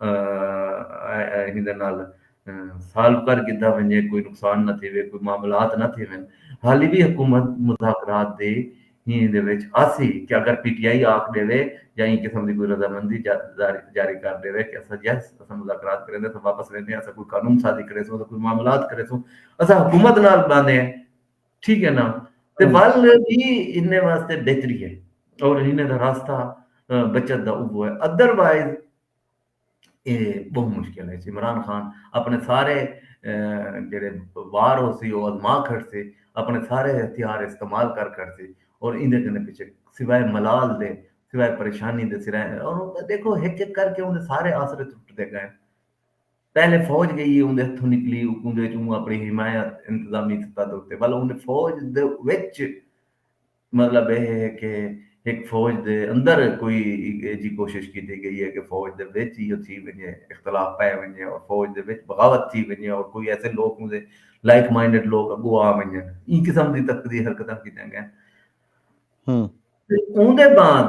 ایندے نال سالو کر گھدا ونجے، کوئی نقصان نہ تھیوے، کوئی معاملات نہ تھیون، ہالی وی حکومت مذاکرات دے ہی دے وچ آسی کہ اگر پی ٹی آئی آکھ ڈیوے یا ایں قسم دی کوئی رضامندی جاری کر ڈیوے کہ اساں یس اساں مذاکرات کریندے اساں واپس ویندے ہاں اساں کوئی قانون سازی کریسوں اساں کوئی معاملات کریسوں اساں حکومت نال باندے ہیں۔ ٹھیک ہے نا تے ول بھی انہیں واسطے بہتری ہے اور انہیں دا راستہ بچت دا اوبو ہے ادر وائز یہ بہت مشکل ہے عمران خان اپنے سارے جڑے وار ہو سی وہ ازما کھڑ سی اپنے سارے ہتھیار استعمال کر کر سی اور اندے کنے پیچھے سوائے ملال دے سوائے پریشانی دے سرائے اور دیکھو ہک ہک کر کے انہیں سارے آسرے ٹوٹ دے گئے پہلے فوج گئی ہے اوندے ہتھوں نکلی اوکوندے وچ اوں اپنی حمایت انتظامی سطح دے اتے ول اوندے فوج دے وچ مطلب اے ہے کہ ہک فوج دے اندر کوئی ایجھی کوشش کیتی گئی ہے کہ فوج دے وچ ایہو تھی ونجے اختلاف پے ونجے اور فوج دے وچ بغاوت تھی ونجے اور کوئی ایسے لوک اوندے لائک مائنڈڈ لوک اگو آ ونجن ایں قسم دی تقدی حرکتاں کیتیاں گئن۔ ہن۔ اوندے بعد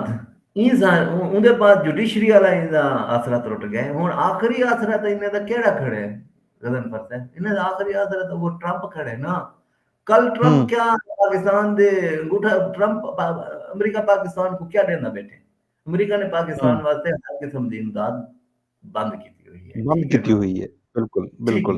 اوندے بعد جوڈیشری آلا انہاں دا آسرا ترٹ گئے ہن آخری آسرا تاں انہاں دا کیہڑا کھڑے غضنفر صاحب انہاں دا آخری آسرا تاں وہ ٹرمپ کھڑے نا کل ٹرمپ کیا پاکستان دے انگوٹھا ٹرمپ امریکہ پاکستان کو کیا ڈیندا بیٹھے امریکہ نے پاکستان واسطے ہر قسم دی امداد بند کیتی ہوئی ہے بند کیتی ہوئی ہے بالکل بالکل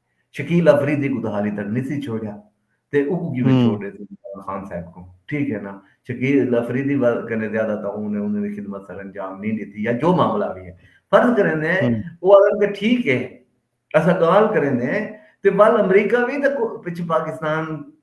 شکیل آفریدی کوں تاں حالی تک نسی چھوڑیا تے اوکوں کیویں چھوڑ ݙیسی عمران خان صاحب کوں ٹھیک ہے نا شکیل آفریدی کنے زیادہ تاں اوں نے انہاں دی خدمت سر انجام نی ݙتی یا جو معاملہ وی ہے فرض کریندے او آکھن کہ ٹھیک ہے اساں ڳالھ کریندے تے ول امریکہ وی تاں پچھے پاکستان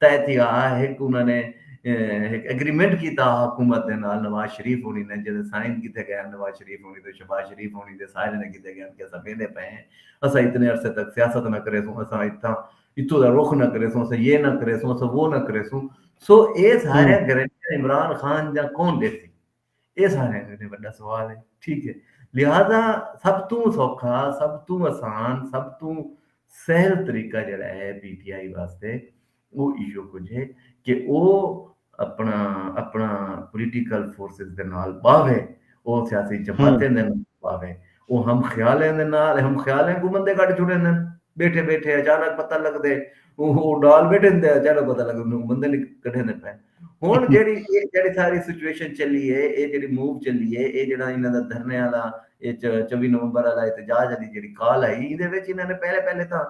طے تھیا ہا ہک انہاں نے ہک ایگریمنٹ کیتا ہا حکومت دے نال نواز شریف ہونی نے جیندے سائن کیتے گئے ہن نواز شریف ہونی تے شہباز شریف ہونی دے سارے نے کیتے گئے ہن کہ اساں ویندے پئے ہیں اساں اتنے عرصے تک سیاست نہ کریسوں اساں اتھاں اتھوں دا رخ نہ کریسوں اساں یہ نہ کریسوں اساں وہ نہ کریسوں سو اے سارے گارنٹیاں عمران خان دیاں کون ڈیسی اے ساریاں کنے وڈا سوال ہے ٹھیک ہے لہذا سب توں سوکھا سب توں اسان سب توں سہل طریقہ جیڑا ہے پی ٹی آئی واسطے او ایہو کجھ ہے کہ او اپنا اپنا پولیٹیکل فورسز دے نال باوے او سیاسی جماعتیں دے نال باوے او ہم خیالیں دے نال ہم خیالیں کو بندے کڈ چھوڑیندن بیٹھے بیٹھے اچانک پتہ لگدے او ڈال بیٹھے اچانک پتہ لگدے بندے نکل کڈھیندے پئے ہن جیڑی اے جیڑی ساری سچویشن چلی اے اے جیڑی موو چلی اے اے جیڑا انہاں دا دھرنے آلا اے چووی نومبر آلا احتجاج آلی جیڑی کال آئی ایندے وچ انہاں نے پہلے پہلے تاں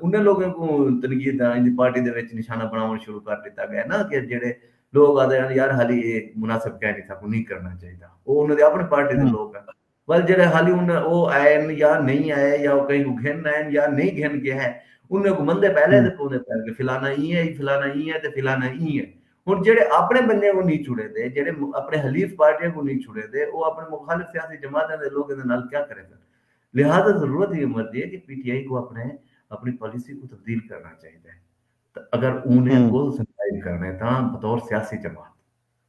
انہیں لوگوں کوں تنقید ایندی پارٹی دے وچ نشانہ بناون شروع کر دیتا گیا نا کہ جیڑے لوگ آدے ہیں یار حالی اے مناسب کہنی تھا کو نہیں کرنا چاہیے دا او انہاں دے اپنے پارٹی دے لوگ ہیں ول جیہڑے حالی انہیں او آئین یا نئیں آئے یا او کہیں کوں گھن آئین یا نئیں گھن گئے ہیں انہیں کوں مندے پہلے دے پوندے پہلے کہ فلانا ایں ہے فلانا ایں ہے تے فلانا ایں ہے ہن جیہڑے اپنے بندیاں کوں نئیں چھوڑیں دے جیہڑے اپنے حلیف پارٹیاں کوں نئیں چھوڑیں دے او اپنے مخالف سیاسی جماعتاں دے لوکیں دے نال کیا کریندن لہذا ضرورت ایں امر دی ہے کہ پی ٹی آئی کوں اپنے اپنی پالیسی کوں تبدیل کرنا چاہیدا ہے اگر انہیں کول سنسائز کرنے تاں بطور سیاسی جماعت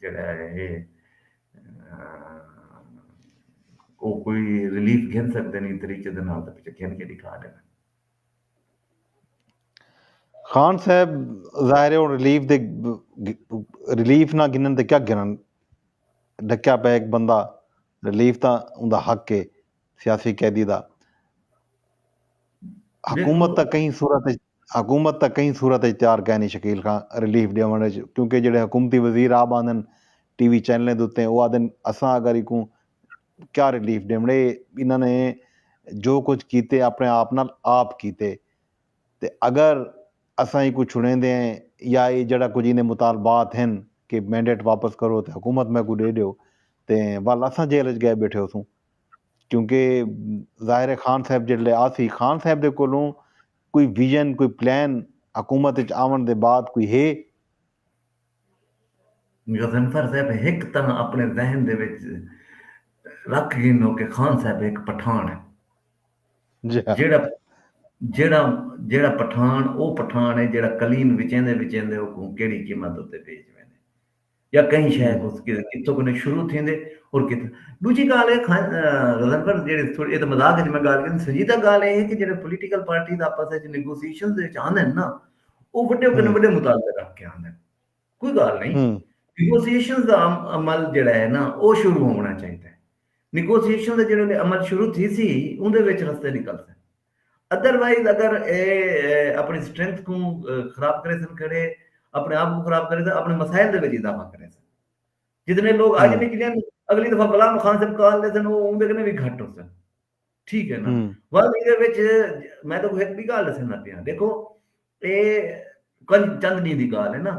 جیڑھا ہے او کوئی ریلیف گھن سکدے نیں طریقے دے نال تاں پچھے گھن کے ڈکھا ڈیون۔ خان صاحب ظاہر ہے ہن ریلیف دے ریلیف نہ گھنن تے کیا گھنن ڈکیا پئے ہک بندہ ریلیف تاں اوندا حق ہے سیاسی قیدی دا حکومت تاں کہیں صورت حکومت تاں کہیں صورت اچ تیار کائنی شکیل خاں ریلیف ڈیونڑ اچ کیونکہ جیڑھے حکومتی وزیر آپ آندن ٹی وی چینلیں دے اتے او آدھن اساں اگر ایکوں کیا ریلیف ڈیونڑے انہاں نے جو کجھ کیتے اپنے آپ نال آپ کیتے تے اگر اساں ایکوں چھڑیندے ہیں یا اے جیڑھا کجھ ایندے مطالبات ہن کہ مینڈیٹ واپس کرو تے حکومت میکوں ڈے ڈیو تے ول اساں جیل اچ گئے بیٹھے ہوسوں کیونکہ ظاہر ہے خان صاحب جیڑھلے آسی خان صاحب دے کولوں کوئی ویژن، کوئی پلان حکومت اچ آونڑ دے بعد کوئی ہے؟ غضنفر صاحب ہک تاں اپنڑے ذہن دے وچ رکھ گھنو کہ خان صاحب ہک پٹھان ہے۔ جیڑھا جیڑھا جیڑھا پٹھان او پٹھان ہے جیڑھا کلیم وچیندے وچیندے اوکوں کیڑھی قیمت اتے بیچ ویندے۔ یا کہیں شے کوں کتھوں کنیں شروع تھیندے اور کتھوں دوجی گالھ ہے خان غزن پر جیڑے تھوڑے اے تے مذاق وچ میں گالھ کیتی سنجیدہ گالھ اے ہے کہ جیڑے پولیٹیکل پارٹیز آپس وچ نیگوسیشن دے وچ آندے نا او وڈے کنے وڈے مطالبے رکھ کے آندے کوئی گالھ نہیں نیگوسیشن دا عمل جیڑا ہے نا او شروع ہونا چاہیدا ہے نیگوسیشن دا جیڑے عمل شروع تھی سی اوندے وچ رستے نکل سن ادر وائز اگر اے اپݨی سٹرینتھ کوں خراب کریسن کھڑے اپݨے آپ کوں خراب کریسن اپݨے مسائل دے وچ اضافہ کریسن جتنے لوگ اج نکلن اگلی دفعہ بلا مخان صاحب کال لیسن او اوندے کنے وی گھٹ ہوسن ٹھیک ہے نا ول ایدے وچ میں تو ایک بھی گال دسن نہ پیاں دیکھو اے چند ڈینہ دی گال ہے نا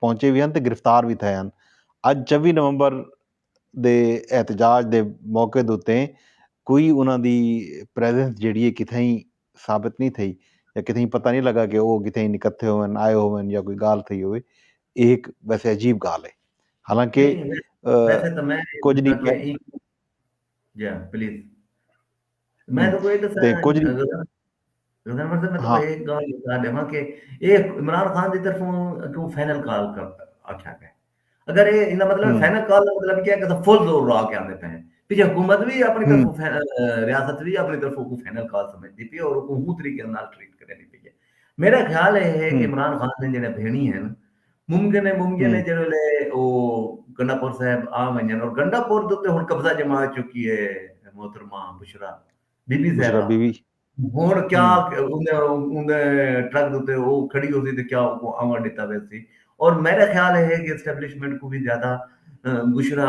پہنچے وی ہن تے گرفتار وی تھئے ہن۔ اج چوی نومبر دے احتجاج دے موقع دے اتے کوئی انہاں دی پریزنس جیڑھی اے کتھائیں ثابت نی تھئی یا کتھائیں پتہ نی لگا کہ او کتھائیں نکتھے ہوون آئے ہوون یا کوئی گالھ تھئی ہووے اے ہک ویسے عجیب گالھ اے حالانکہ کجھ نی پلے۔ میں تو کوئی دسا کچھ غزنفر سے میں تو ایک گال بتا دے ماں کہ اے عمران خان دی طرف کیوں فائنل کال کر آکھیا گیا اگر اے انہاں مطلب فائنل کال دا مطلب کیا کہ فل زور لا کے آندے پے پیچھے حکومت بھی اپنی طرف ریاست بھی اپنی طرف کو فائنل کال سمجھ دی پی اور کو ہوں طریقے نال ٹریٹ کرے دی پی میرا خیال اے ہے کہ عمران خان نے جڑے بھینی ہیں ممکن ہے ممکن ہے جیڑھے ویلے او گنڈا پور صاحب آ ونجن اور گنڈا پور دے تے ہن قبضہ جما چکی ہے محترمہ بشرا بی بی صاحبہ بی بی ہن کیا اون دے ٹرک دے تے او کھڑی ہوسی تے کیا او آون ڈتا ویسی اور میرا خیال ہے کہ اسٹیبلشمنٹ کو بھی زیادہ بشرا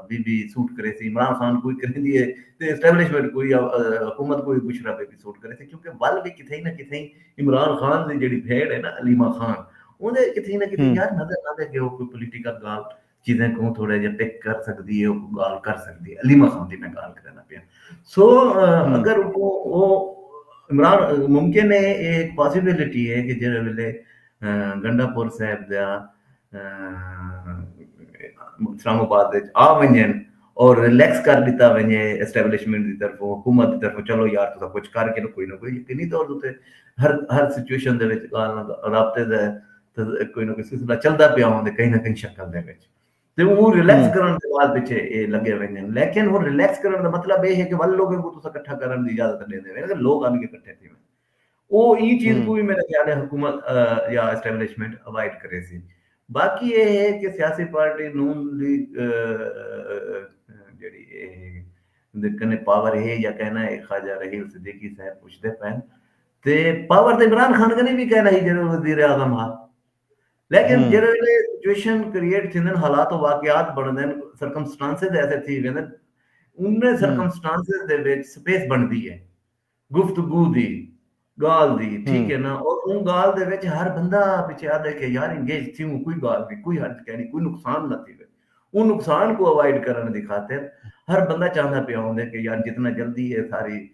بی بی سوٹ کرے سی عمران خان کوئی کرے دی ہے تے اسٹیبلشمنٹ کوئی حکومت کوئی بشرا بی بی سوٹ کرے سی کیونکہ ول بھی کتھے نہ کتھے عمران خان دی جیڑھی بھیݨ ہے نا علیمہ خان اوندے اچ کتھے نہ کتھے یار نظر آندے کہ او کوئی پولیٹیکل گال چیزیں کوں تھوڑا جیہا پک کر سکدی ہے کوئی گال کر سکدی ہے علیمہ خان دی میں گال کرنا پیا سو اگر او او عمران ممکن ہے اے ایک پاسیبلٹی ہے کہ جیڑھے ویلے گنڈا پور صاحب دا اسلام آباد وچ آ ونجن او ریلیکس کر ݙتا ونڄے اسٹیبلشمنٹ دی طرفوں حکومت دی طرفوں چلو یار تساں کجھ کر گھنو کوئی نہ کوئی یقینی طور تے ہر ہر سچویشن دے وچ ڳالھ نہ رابطے دا کوئی نہ کوئی سلسلہ چلدا پیا ہوندے کہیں نہ کہیں شکل دے وچ تے او ریلیکس کرݨ دے بعد پچھے اے لڳے ویندن لیکن ہݨ ریلیکس کرݨ دا مطلب اے ہے کہ ول لوگاں کوں تساں کٹھا کرݨ دی اجازت ݙیندے ویندے لوگ آن کے کٹھے تھیون او ایں چیز کوں وی میرے خیال ہے حکومت یا اسٹیبلشمنٹ اوائڈ کریسی۔ باقی اے ہے کہ سیاسی پارٹی نون دی جیڑھی اے دے کنے پاور ہے یا کہنا ہے خواجہ رحیل صدیقی صاحب پچھدے پئن تے پاور تے عمران خان کنے وی کہنا ہی جیڑھے وزیر اعظم ہا۔ لیکن جیڑھے ویلے سچویشن کریٹ تھیندن حالات و واقعات بنڑدن سرکمسٹانسز ایسے تھی ویندن انہیں سرکمسٹانسز دے وچ سپیس بنڑدی ہے۔ گفتگو دی گالھ دی ٹھیک ہے نا اور اوں گالھ دے وچ ہر بندہ پچھے آدھے کہ یار انگیج تھیوں کوئی گالھ نہیں کوئی ہرج کینی کوئی نقصان نہ تھیوے اوں نقصان کو اوائڈ کرن دی خاطر ہر بندہ چاہندہ پیا ہوندے کہ یار جتنا جلدی اے ساری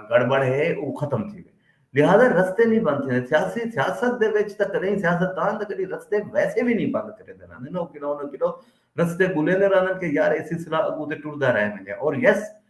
گڑبڑ ہے او ختم تھیوے لہذا رستے نہیں بند تھیندے سیاسی سیاست دے وچ تک نہیں سیاست دان تک نہیں رستے ویسے بھی نہیں بند کرے دے رہنے نا کلو نہ کلو رستے گلے دے رہنے کہ یار اے سلسلہ اگو تے ٹردا رہنے اور یس yes,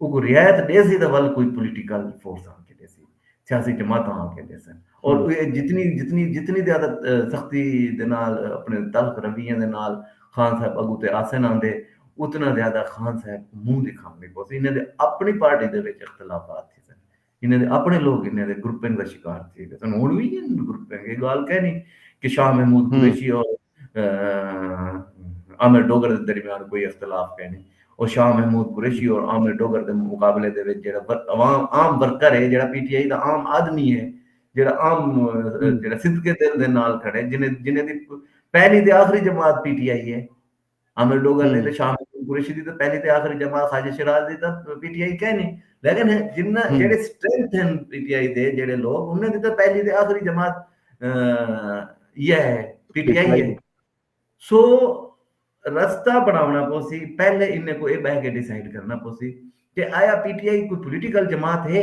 اوکوں رعایت ݙیسی تاں ول کوئی پولیٹیکل فورس آن کے ݙیسی سیاسی جماعتاں آن کے ݙیسن اور جتنی جتنی جتنی زیادہ سختی دے نال اپنے تلخ رویے دے نال خان صاحب اگو تے آسن آندے اتنا زیادہ خان صاحب کوں منہ دکھاوݨی پوسی انہاں دے اپݨی پارٹی دے وچ اختلافات تھیسن۔ انہاں دے اپݨے لوک انہاں دے گروپنگ دا شکار تھی ڳئے ہن ہݨ وی ہن گروپنگ اے ڳالھ کینی کہ شاہ محمود قریشی اور عامر ڈوگر دے درمیان کوئی اختلاف کینی او شاہ محمود قریشی اور عامر ڈوگر دے مقابلے دے وچ جیڑھا عوام عام ورکر اے جیڑھا پی ٹی آئی دا عام آدمی اے جیڑھا عام جیڑھا صدقے دل دے نال کھڑے جنہاں جنہاں دی پہلی تے آخری جماعت پی ٹی آئی اے عامر ڈوگر نے تے شاہ محمود قریشی دی تے پہلی تے آخری جماعت خواجہ شیراز دی تے پی ٹی آئی کہیں نہیں لیکن جنہ جڑے سٹرینتھ ہیں پی ٹی آئی دے جڑے لوگ انہیں دی تے پہلی تے آخری جماعت یہ ہے پی ٹی آئی ہے سو رستہ بناونا پوسی پہلے انہیں کو اے بہہ کے ڈیسائیڈ کرنا پوسی کہ آیا پی ٹی آئی کوئی پولیٹیکل جماعت ہے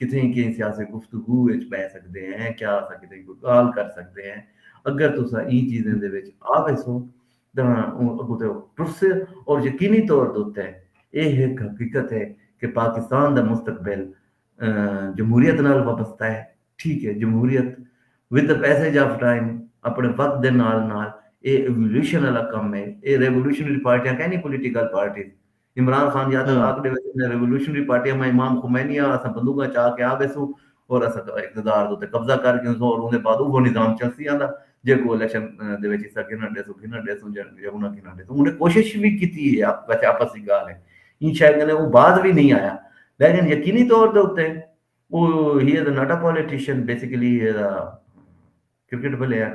کتھیں کہیں سیاسی گفتگو وچ ٻہہ سڳدے ہیں، کیا اساں کتھیں کوئی ڳالھ کر سڳدے ہیں، اگر تساں ایں چیزیں دے وچ آ ویسو تاں اوں اڳوں توں ٹرسے اور یقینی طور دے اتے ایہ ہک حقیقت ہے کہ پاکستان دا مستقبل جمہوریت نال وابستہ ہے، ٹھیک ہے جمہوریت with the passage of time اپݨے وقت دے نال نال ایہ ایوولوشن آلا کم ہے، ایہ ریوولوشنری پارٹیاں کائنی پولیٹیکل پارٹیز، عمران خان یا تاں آکھ ݙیوے سنجھاں ریولوشنری پارٹی اما امام خمینی ہا اساں بندوقاں چا کے آ ویسوں اور اساں اقتدار دے اتے قبضہ کر گھنسوں اور اوندے بعد اوہو نظام چلسی آندا جیکوں الیکشن دے وچ حصہ گھنݨ ݙیسوں گھنݨ ݙیسوں یا انہاں گھنݨ ݙیسوں انہیں کوشش وی کیتی ہے ویسے آپس دی ڳالھ ہے ایں شے کنے او باز وی نئیں آیا لیکن یقینی طور دے اتے او he is not a politician basically he is a cricket player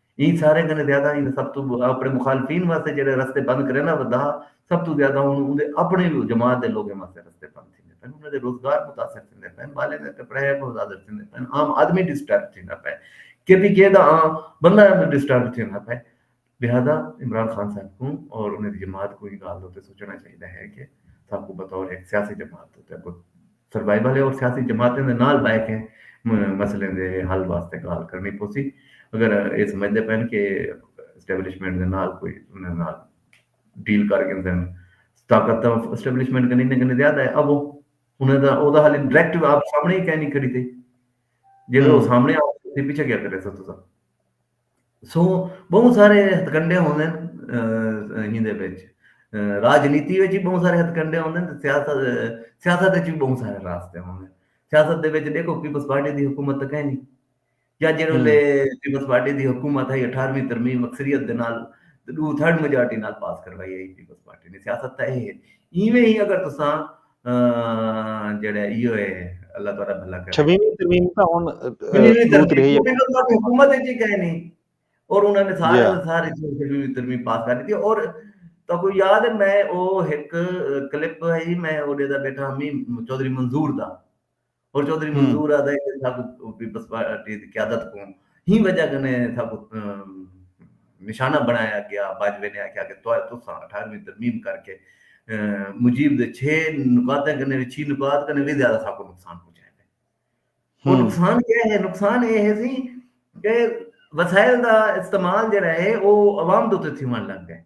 ایں ساریں کنیں زیادہ ایں دا سب توں اپݨے مخالفین واسطے جیڑھے رستے بند کریندہ ودا سب توں زیادہ ہݨ اوندے اپݨے جماعت دے لوگیں واسطے رستے بند تھیندے پئن انہاں دے روزگار متاثر تھیندے پئن ٻالیں دے کپڑے متاثر تھیندے پئن عام آدمی ڈسٹرب تھیندا پئے کے پی کے دا عام بندہ ڈسٹرب تھیندا پئے لہذا عمران خان صاحب کوں اور انہاں دی جماعت کوں ایں ڳالھ دے اتے سوچݨا چاہیدا ہے کہ ساکوں بطور ہک سیاسی جماعت دے اتے اگوں سروائیول ہے اور سیاسی جماعتیں دے نال بہہ کے مسئلیں دے حل واسطے گالھ کرنی پوسی اگر اے سمجھ دے پن کہ اسٹیبلشمنٹ دے نال کوئی انہاں نال ڈیل کر گھندن طاقت تاں اسٹیبلشمنٹ کنی نہ کنی زیادہ ہے اب انہاں دا او دا حل ڈائریکٹ آپ سامنے ہی کہنی کھڑی تھی جے او سامنے آ تے پیچھے کیا کرے سو تساں سوں بہوں سارے ہتھ کنڈے ہوندے ہیں ہیندے وچ راجنیتی وچ بھی بہوں سارے ہتھ کنڈے ہوندے ہیں سیاست سیاست وچ بھی بہوں سارے راستے ہوندے ہیں سیاست دے وچ دیکھو پیپلز پارٹی دی حکومت تک ہے نہیں یا جے ویلے پیپلز پارٹی دی حکومت ہے 18ویں ترمیم اکثریت دے نال دو تھرڈ میجارٹی نال پاس کروائی ہے پیپلز پارٹی نے سیاست تھا ہے ایویں ہی اگر تساں جیڑھا ایہو ہے اللہ تعالی بھلا کرے۔ چھویہویں ترمیم تاں ہن دو تریہائی حکومت اچ ہی کائنی اور انہاں نے سارے دے سارے چھویہویں ترمیم پاس کر ڈتی اور تہاکوں یاد ہے میں او ہک کلپ ہئی میں اوڈے دا بیٹھا ہمی چوہدری منظور دا ہور چوہدری منظور آہدا ہے کہ ساکوں پیپلز پارٹی دی قیادت کوں ہی وجہ کنے ساکوں نشانہ بنڑایا گیا، باجوے نے آکھیا کہ تساں اٹھارویں ترمیم کر کے مجیب دے چھے نکاتیں کنے وی چھی نکات کنے وی زیادہ ساکوں نقصان پہنچائے دے۔ ہور نقصان کیا ہے؟ نقصان اے ہے سی کہ وسائل دا استعمال جیڑا ہے او عوام دے اتے تھیونڑ لگ گئے۔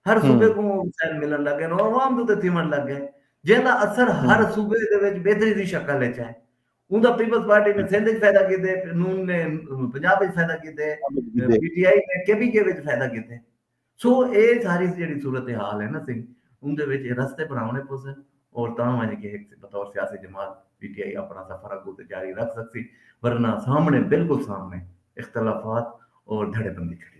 ہر صوبے کوں وسائل ملݨ لگ ڳئن اور عوام دے اتے تھیوݨ لگ ڳئن جیں دا اثر ہر صوبے دے وچ بہتری دی شکل اچ ہے اوندا پیپلز پارٹی نے سندھ اچ فائدہ کیتے نون نے پنجاب اچ فائدہ کیتے پی ٹی آئی نے کے پی کے وچ فائدہ کیتے سو اے ساری جیڑھی صورتحال ہے نا سنگھ اوندے وچ اے رستے بݨاوݨے پوسن اور تاں ونڄ کے ہک بطور سیاسی جماعت پی ٹی آئی اپݨا سفر اڳوں تے جاری رکھ سڳسی ورنہ سامݨے بالکل سامݨے اختلافات اور دھڑے بندی کھڑی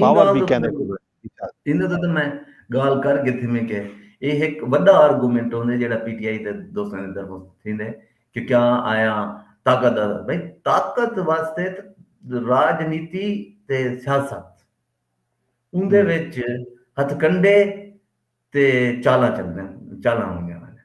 پاور وی کیندے کوں ہے۔ ایندے تے تاں میں گالھ کر گھدی میں کہ ایہ ہک وڈا آرگومنٹ ہوندے جیڑھا پی ٹی آئی دے دوستاں دی طرفوں تھیندے کہ کیا آیا طاقت دا بھئی طاقت واسطے تاں راجنیتی تے سیاست اوندے وچ ہتھکنڈے تے چالاں چلدن چالاں ہوندیاں نیں۔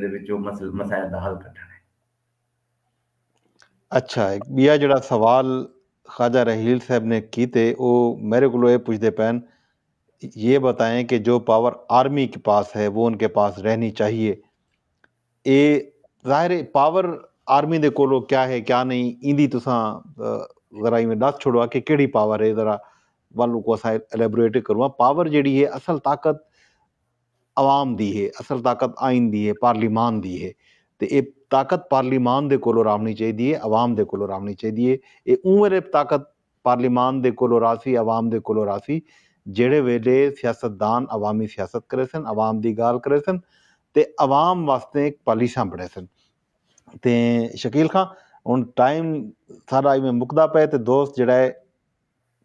دے وچوں مسائل دا حل کڈھݨ ہے۔ اچھا ہک ٻیا جیڑھا سوال خواجہ رحیل صاحب نے کیتے او میرے کولوں اے پچھدے پئن یہ بتائیں کہ جو پاور آرمی کے پاس ہے وہ ان کے پاس رہنی چاہیے اے ظاہر ہے پاور آرمی دے کولوں کیا ہے کیا نہیں ایندی تساں ذرا ایویں ݙس چھوڑوا کہ کیڑھی پاور ہے ذرا ول کو اساں الیبوریٹ کرواں پاور جیڑھی ہے اصل طاقت عوام دی ہے، اصل طاقت آئین دی ہے، پارلیمان دی ہے تے اے طاقت پارلیمان دے کولوں راونڑی چاہیدی ہے، عوام دے کولوں راونڑی چاہیدی ہے، اے اوں ویلے طاقت پارلیمان دے کولوں راہسی، عوام دے کولوں راہسی جیہڑے ویلے سیاستدان عوامی سیاست کریسن، عوام دی گالھ کریسن تے عوام واسطے پالیساں بنڑیسن۔ تے شکیل خاں ہنڑ ٹائم ساڈا ایویں مکدا پئے تے دوست جیہڑا ہے۔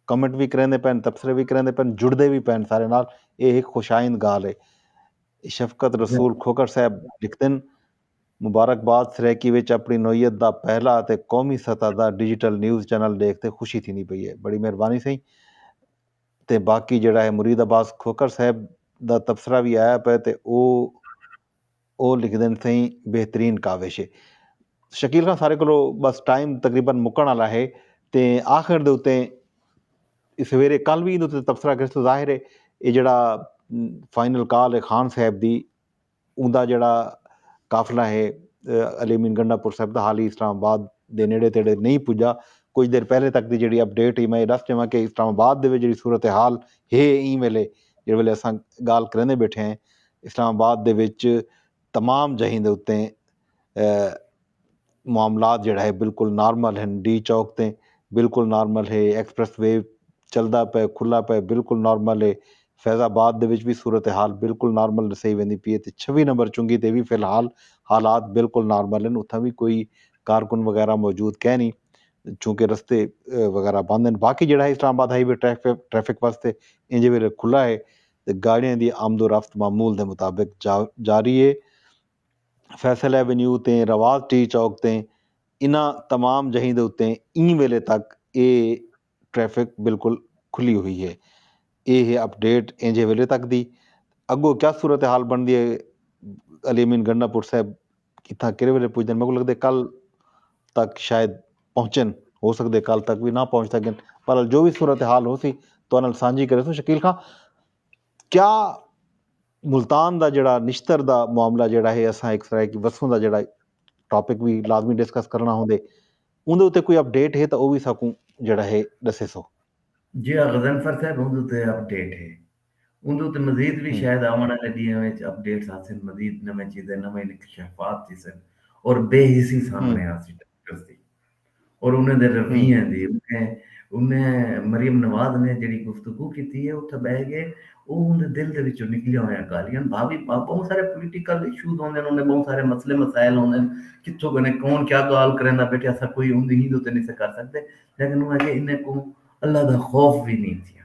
کمنٹ وی کریندے پئن تبصرے وی کریندے پئن جڑدے وی پئن سارے نال اے ہک خوش آئند گالھ اے شفقت رسول کھوکھر صاحب لکھدن مبارکباد سرائیکی وچ اپنڑی نوعیت دا پہلا اتے قومی سطح دا ڈیجیٹل نیوز چینل ڈیکھ تے خوشی تھیندی پئی اے بڑی مہربانی سئیں تے باقی جیڑھا اے مرید عباس کھوکھر صاحب دا تبصرہ وی آیا پئے تے او او لکھدن سئیں بہترین کاوش ہے۔ شکیل خان سارے کولو بس ٹائم تقریبا مکن آلا ہے تے آخر دے اتے سویرے کل وی ایندے اتے تبصرہ کرسوں ظاہر ہے اے جیڑا فائنل کال ہے خان صاحب دی اوندا جیڑا قافلہ ہے علی امین گنڈا پور صاحب دا حالی اسلام آباد دے نیڑے تیڑے نہیں پجا کچھ دیر پہلے تک دی جیڑی اپڈیٹ ہے میں اے ڈس جاواں کہ اسلام آباد دے وچ جیڑی صورتحال ہے ایں ویلے جیڑے ویلے اساں گال کریندے بیٹھے ہیں اسلام آباد دے وچ تمام جہیں دے اتے معاملات جیڑھا ہے بالکل نارمل ہیں ڈی چوک تے بالکل نارمل ہے ایکسپریس وے چلدا پے کھلا پے بالکل نارمل ہے فیض آباد دے وچ بھی صورتحال بالکل نارمل نسائی ویندی پی ہے تے چھوی نمبر چنگی تے بھی فی الحال حالات بالکل نارمل ہیں اتھاں بھی کوئی کارکن وغیرہ موجود کہہ نہیں چونکہ رستے وغیرہ بند ہیں باقی جیڑھا ہے اسلام آباد ہائی وے ٹریفک واسطے انجے ویلے کھلا ہے تے گاڑیاں دی آمد و رفت معمول دے مطابق جاری اے۔ فیصل ایونیو تے رواس ٹی چوک تے انہاں تمام جہیں دے اتے ایں ویلے تک اے ٹریفک بالکل کھلی ہوئی اے۔ اے ہے اپ ڈیٹ اینجھے ویلے تک دی۔ اگو کیا صورتحال بنڑدی اے علی امین گنڈا پور صاحب کتھاں کیرھے ویلے پجدن میکوں لگدے کل تک شاید پہنچن ہو سگدے کل تک وی نہ پہنچ سگن بہرحال جو وی صورتحال ہوسی تہاڈے نال سانجھی کریسوں شکیل خاں کیا ملتان دا جیڑا نشتر دا معاملہ جیڑا ہے اساں ہک سرائیکی وسوں دا جیڑا ٹاپک وی لازمی ڈسکس کرنا ہوندے اوندے اتے کوئی اپڈیٹ ہے تاں او وی ساکوں جیڑا ہے ڈسیسو۔ جیڑا غضنفر صاحب اوندے اتے اپڈیٹ ہے اوندے اتے مزید وی شاید آوݨ آلے ݙینہاں وچ اپ ڈیٹس آسن، مزید نویں چیزیں، نویں انکشافات تھیسن اور بے حسی سامݨے آسی ڈاکٹرز دی اور انہیں دے رویے دی۔ انہیں انہیں مریم نواز نے جیڑھی گفتگو کیتی ہے اتھاں ٻہہ کے او اوندے دل دے وچوں نکلیاں ہویاں ڳالھیں ہن۔ بھاوی بہوں سارے پولیٹیکل ایشوز ہوندے ہن، اوندے بہوں سارے مسئلے مسائل ہوندے ہن، کتھوں کنے کون کیا ڳالھ کریندا بیٹھے اساں کوئی اوندی ہیندو تے نی سہ کر سڳدے لیکن اوہ آکھیے انہیں کوں اللہ دا خوف وی نی تھیا۔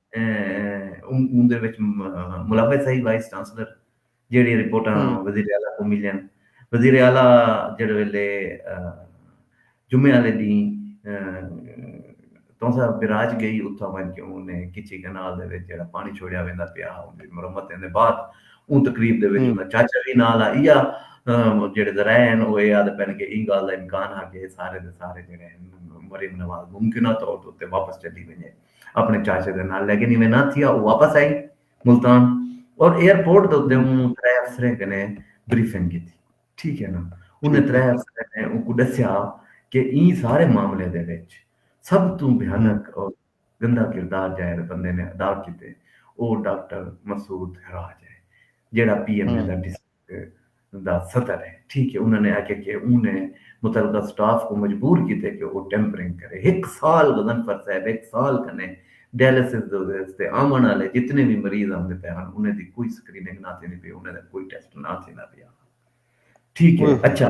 اوندے وچ ملوث ہئی وائس چانسلر جیڑھیاں رپورٹاں وزیر اعلی کوں ملیاں۔ وزیر اعلی جیڑھے ویلے جمعے آلے ڈینھ تونسہ بیراج گئی اتھاں ونج کے اوں نے کچی کینال دے وچ جیڑھا پانڑی چھوڑیا ویندا پیا ہا اوندی مرمت دے بعد اوں تقریب دے وچ اوندا چاچا وی نال ہا ایہا جیڑھے ذرائع ہن او ایہا آدھے پن کے ایں گالھ دا امکان ہا کے اے سارے دے سارے جیڑھے ہن مریم نواز ممکنہ طور تے اتھے واپس چلی ونجے۔ اپݨے چاچے دے نال لیکن ایویں نہ تھیا او واپس آئی ملتان اور ایئر پورٹ دے اتے اوں ترے افسریں کنے بریفنگ کیتی ٹھیک ہے نا انہیں ترے افسریں نے اونکوں ݙسیا کہ ایں سارے معاملے دے وچ سب توں بھیانک اور گندا کردار جیہڑے بندے نے ادا کیتے او ڈاکٹر مسعود ہراج ہے جیہڑا پی ایم اے دا ڈی سی دا صدر ہے ٹھیک ہے انہاں نے آکھیا کہ اوں نے متعلقہ سٹاف کوں مجبور کیتے کہ او ٹیمپرنگ کرے ہک سال غضنفر صاحب ہک سال کنے ڈیالسس دے استے آوݨ آلے جتنے وی مریض آندے پئے ہن انہیں دی کوئی سکریننگ نہ تھیندی پئی انہیں دا کوئی ٹیسٹ نہ تھیندا پیا ہا ٹھیک ہے اچھا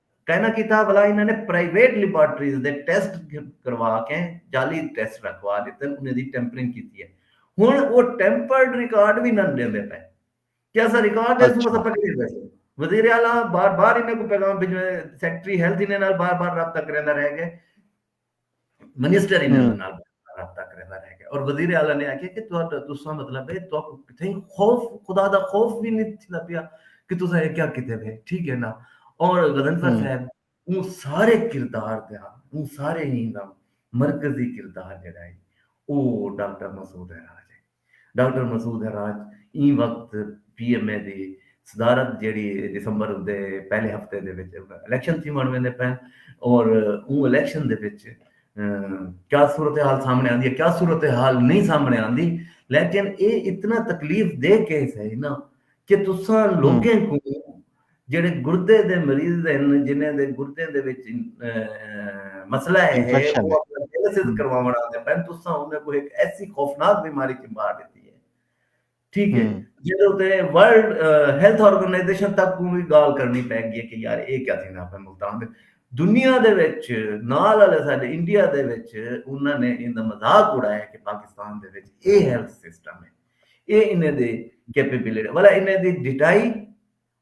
کائناں کیتا ولا انہاں نے پرائیویٹ لیبارٹریز دے ٹیسٹ کروا کے جعلی ٹیسٹ رکھوا ݙتے انہیں دی ٹیمپرنگ کیتی ہے ہن او ٹیمپرڈ ریکارڈ وی نن ݙیندے پئے کہ اساں ریکارڈ ݙے سوں اساں پکڑی ویسوں وزیر اعلی بار بار انہیں کو پیغام بھیجو سیکرٹری ہیلتھ انہیں نال بار بار رابطہ کریندا رہ گئے منسٹر انہاں دے نال رابطہ کریندا رہ گیا اور وزیر اعلی نے آکھیا کہ تہاڈا تساں مطلب ہے تہاکوں کتھے خوف خدا دا خوف وی نہیں تھیندا پیا کہ تساں اے کیا کیتے پے ٹھیک ہے نا اور غضنفر صاحب اوں سارے کردار دے اوں سارے ہی مرکزی کردار جڑا ہے او ڈاکٹر مسعود ہے ڈاکٹر مسعود ہراج ایں وقت پی ایم اے دی صدارت جیڑھی دسمبر دے پہلے ہفتے دے وچ الیکشن تھیوݨ ویندے پئن اور اوں الیکشن دے وچ کیا صورتحال سامنے آندی ہے کیا صورتحال نہیں سامنے آندی لیکن اے اتنا تکلیف دے کیس ہے نا کہ تساں لوگیں کوں جیڑھے گردے دے مریض ہن جنہیں دے گردیں دے وچ مسئلہ ہے او اپنا ڈیالسس کرواوݨ آندے پئن تساں انہیں کو ہک ایسی خوفناک بیماری چ مار ݙتی ہے ٹھیک ہے جیڑھے اتے ورلڈ ہیلتھ آرگنائزیشن تک کوں وی گال کرنی پے گی ہے کہ یار اے کیا تھیندا پئے ملتان دے دنیا دے وچ نال والے ساڈے انڈیا دے وچ انہاں نے ایندا مذاق اڑایا کہ پاکستان دے وچ اے ہیلتھ سسٹم ہے اے انہیں دے کیپیبلٹی والا انہیں دی ڈٹائی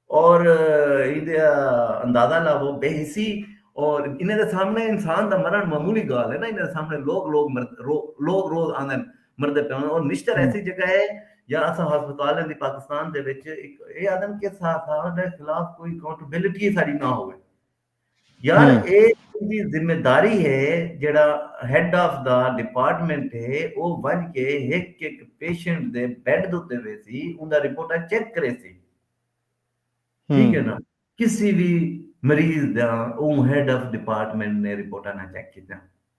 اور ایدے اندازہ لاوو بے حسی اور انہیں دے سامنے انسان دا مرن معمولی گال ہے نا انہیں دے سامنے لوگ لوگ مرد لوگ روز آندن مردے پہ اور نشتر ایسی جگہ ہے یا اسا ہسپتال ہیں دی پاکستان دے وچ اے آدم کے ساتھ آدم دے خلاف کوئی کاؤنٹبلٹی ساری نہ ہوئے یار اے تہاڈی ذمہ داری ہے جیہڑا ہیڈ آف دا ڈیپارٹمنٹ ہے او ونج کے ہک ہک پیشنٹ دے بیڈ دے اتے ویسی اوندا رپورٹاں چیک کریسی ٹھیک ہے نا کسی وی مریض دا اوں ہیڈ آف ڈیپارٹمنٹ نے رپورٹاں نا چیک کیتیاں۔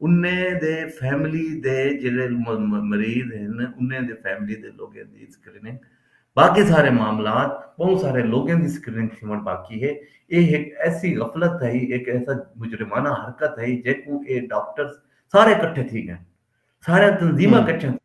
انہیں دے فیملی دے جیڑھے مریض ہن انہیں دے فیملی دے لوگیں دی سکریننگ باقی سارے معاملات بہوں سارے لوگیں دی سکریننگ تھیوݨ باقی ہے اے ہک ایسی غفلت ہئی ہک ایسا مجرمانہ حرکت ہئی جیکوں اے ڈاکٹرز سارے کٹھے تھی ڳئن ساریاں تنظیماں کٹھیاں تھی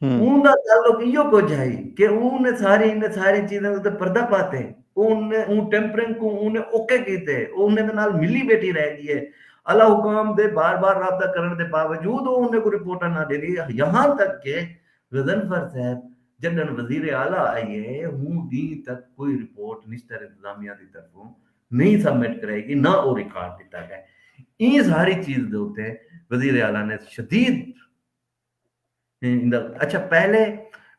اوں دا تعلق ایہو کجھ ہئی کہ اوں نے ساری انہیں ساری چیزیں دے اتے پردہ پاتے۔ اوں نے اوں ٹیمپرنگ کوں اوں نے اوکے کیتے۔ او انہیں دے نال ملی بیٹھی رہ گی ہے۔ اعلی حکام دے بار بار رابطہ کرن دے باوجود او انہیں کوں رپورٹاں نہ ڈیندی یہاں تک کہ غضنفر صاحب جڈن وزیر اعلی آئیے ہوں ڈینہہ تک کوئی رپورٹ نشتر انتظامیہ دی طرفوں نہیں سبمٹ کرائی گی نہ او ریکارڈ ڈتا گئے۔ ایں ساری چیز دے اتے وزیر اعلی نے شدید اچھا پہلے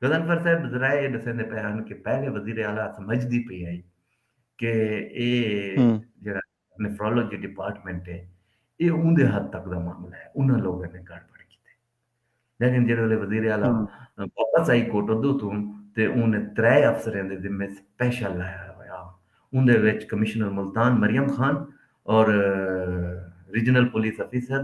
غزنفر صاحب ذرا یہ دسیں دے پہ ہن کہ پہلے وزیر اعلی سمجھ دی پئی آئی کہ اے جڑا نیفرولوجی ڈپارٹمنٹ ہے اے اون دے حد تک دا معاملہ ہے انہاں لوگوں نے گڑ پڑ کیتے لیکن جڑے والے وزیر اعلی واپس آئی کوٹ دو تو تے اون نے ترے افسریں دے ذمے سپیشل لایا ہویا اون دے وچ کمشنر ملتان مریم خان اور ریجنل پولیس افیسر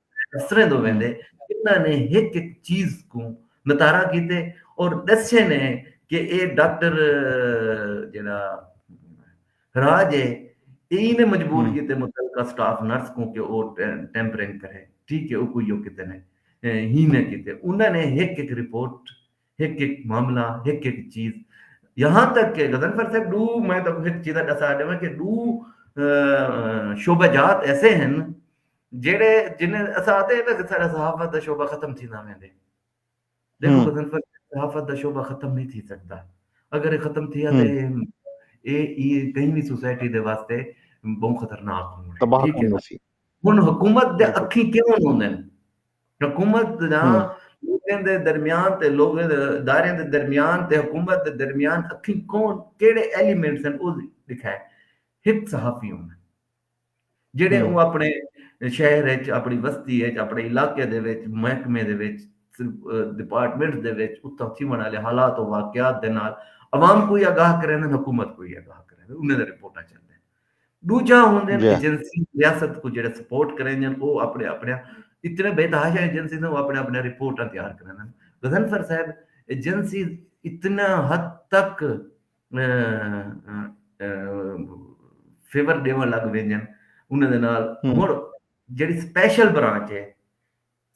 اسریندو ویندے انہاں نے ہک ہک چیز کوں نتارا کیتے اور ڈسے نے کہ اے ڈاکٹر جیڑا راج ہے ایں نے مجبور کیتے متعلقہ سٹاف نرس کوں کہ او ٹیمپرنگ کرے ٹھیک ہے او کوئی او کیتے نے ہی نے کیتے انہاں نے ہک ہک رپورٹ ہک ہک معاملہ ہک ہک چیز یہاں تک کہ غزن فر صاحب دو میں تو ہک چیز دسا دے کہ دو شعبہ جات ایسے ہیں جیڑھے جنہیں اساں آتے ہیں کہ سارا صحافت دا شعبہ ختم تھی نہ ویندے دیکھو غزل فر صحافت دا شعبہ ختم نہیں تھی سکتا اگر یہ ختم تھی آتے اے ای کہیں بھی سوسائٹی دے واسطے بہت خطرناک ہوں تباہ کرنا سی ہن حکومت دے اکھیں کیوں ہوندے حکومت دا لوگوں دے درمیان تے لوگوں دے ادارے دے درمیان تے حکومت دے درمیان اکھیں کون کیڑے ایلیمنٹس ہیں او دکھائے ہک صحافی ہوں جیڑھے اوں اپݨے شہر اچ، اپݨی وستی اچ، اپݨے علاقے دے وچ، محکمے دے وچ، ڈیپارٹمنٹس دے وچ اتھاں تھیوݨ آلے حالات و واقعات دے نال عوام کوں وی آگاہ کریندن، حکومت کوں وی آگاہ کریندن، انہیں دے رپورٹاں چندن۔ ڈوجھا ہوندن ایجنسی ریاست کوں جیڑھے سپورٹ کریندن او اپݨے اپݨے اتنے بے تحاشا ایجنسیز او اپݨے اپݨے رپورٹاں تیار کریندن۔ غضنفر صاحب ایجنسیز اتنا حد تک، فیور ڈیون لگ ویندن انہاں دے نال ہن جڑی سپیشل برانچ ہے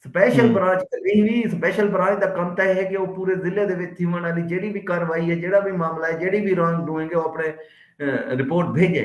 سپیشل برانچ کہیں بھی سپیشل برانچ دا کم تہ ہے کہ وہ پورے ضلع دے وچ تھیون والی جڑی بھی کاروائی ہے جڑا بھی معاملہ ہے جڑی بھی رانگ ڈوئنگ ہے وہ اپنے رپورٹ بھیجے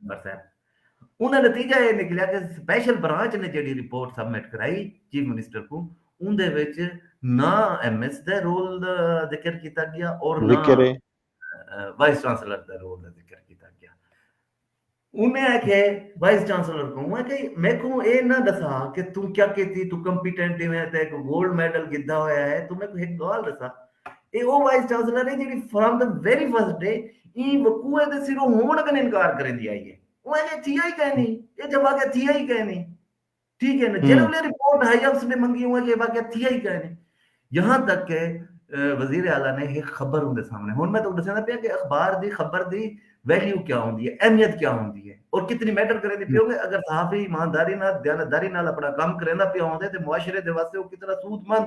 ممبر صاحب انہاں نتیجہ ایہ نکلیا کہ سپیشل برانچ نے جیڑھی رپورٹ سبمٹ کرائی چیف منسٹر کوں اوندے وچ نہ ایم ایس دے رول دا ذکر کیتا گیا اور نہ وائس چانسلر دے رول دا ذکر کیتا گیا انہیں ہے کہ وائس چانسلر کو ہے کہ میں کو اے نہ دسا کہ تم کیا کیتی تو کمپیٹنٹ ہے تے کو گولڈ میڈل گدا ہویا ہے تو میں کو ایک گال دسا اے او وائس چانسلر اے جیڑھی from the very first day ایں وقوع دے سروں ہووݨ کن انکار کریندی آئی اے۔ او اینجھے تھیا ای کائنی۔ اے جیہا واقعہ تھیا ای کائنی۔ ٹھیک اے نا۔ جیڑھے ویلے رپورٹ ہائی آفس نے منگی اوں اینجھے واقعہ تھیا ای کائنی۔ یہاں تک کہ وزیر اعلی نے ہک خبر اوندے سامنے ہݨ میں تہاکوں ݙسیندا پیاں کہ اخبار دی خبر دی ویلیو کیا ہوندی اے، اہمیت کیا ہوندی اے اور کتنی میٹر کریندی پئی ہووے۔ اگر صحافی ایمانداری نال، دیانتداری نال اپݨا کم کریندا پیا ہوندے تے معاشرے دے واسطے او کتنا سود مند،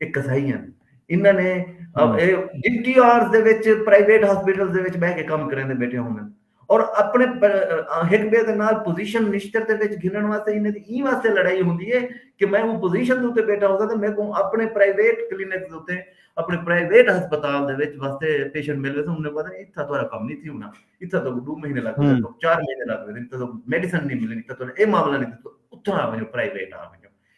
اے قصائی ہن انہاں نے اے ڈی ٹی آرز دے وچ پرائیویٹ ہاسپٹلز دے وچ بیٹھ کے کم کریندے بیٹھے ہوندن اور اپنے ہک بے دے نال پوزیشن نشتر دے وچ گھنن واسطے انہاں دی ایں واسطے لڑائی ہوندی ہے کہ میں اوں پوزیشن دے اوتے بیٹھا ہوساں تے میکوں اپنے پرائیویٹ کلینک دے اوتے اپنے پرائیویٹ ہسپتال دے وچ واسطے پیشنٹ مل ویسے انہاں نے پتہ نہیں اتھا تہاڈا کم نہیں تھی ہونا اتھا تو دو مہینے لگ گئے تو چار مہینے لگ گئے اتھا تو میڈیسن نہیں ملنی اتھا تو اے معاملہ نہیں اتھا آ ونجو پرائیویٹ آ ونجو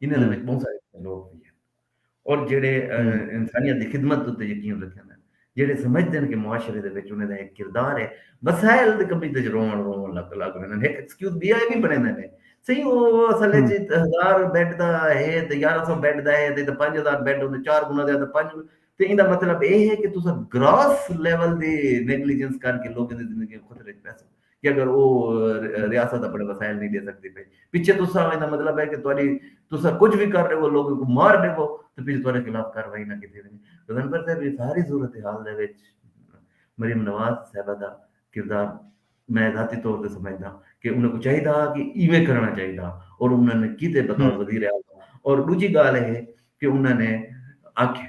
انہاں دے وچ بہوں سارے لوگ وی ہن اور جیڑھے انسانیت دی خدمت اتے یقین رکھن جیڑھے سمجھدے ہن کہ معاشرے دے وچ انہاں دا ایک کردار ہے وسائل دی کمی تے روون روون لگ لگ ویندے ہن ہک ایکسکیوز بیا ہے بھی بنیندے نے صحیح او اصل وچ ہزار بیڈ دا ہے تے 1100 بیڈ دا ہے تے 5000 بیڈ ہوندے چار گنا زیادہ پنج تے ایندا مطلب اے ہے کہ تساں گراس لیول دی نیگلیجنس کر کے لوکاں دی زندگی خطرے وچ پیسو کہ اگر او ریاست اپنے وسائل نہیں دے سکدی پئی پچھے تساں ایندا مطلب ہے کہ تہاڈی تساں کچھ وی کر ڈیوو لوکاں کوں مار ڈیوو تے پچھے تہاڈے خلاف کاروائی نہ کیتی ونجے تاں انور صاحب ایں ساری صورتحال دے وچ مریم نواز صاحبہ دا کردار میں ذاتی طور تے سمجھداں کہ انہاں کوں چاہیدا ہا کہ ایویں کرݨا چاہیدا اور انہاں نے کیتے بطور وزیر اعظم اور ݙوجھی ڳالھ اے کہ انہاں نے آکھیا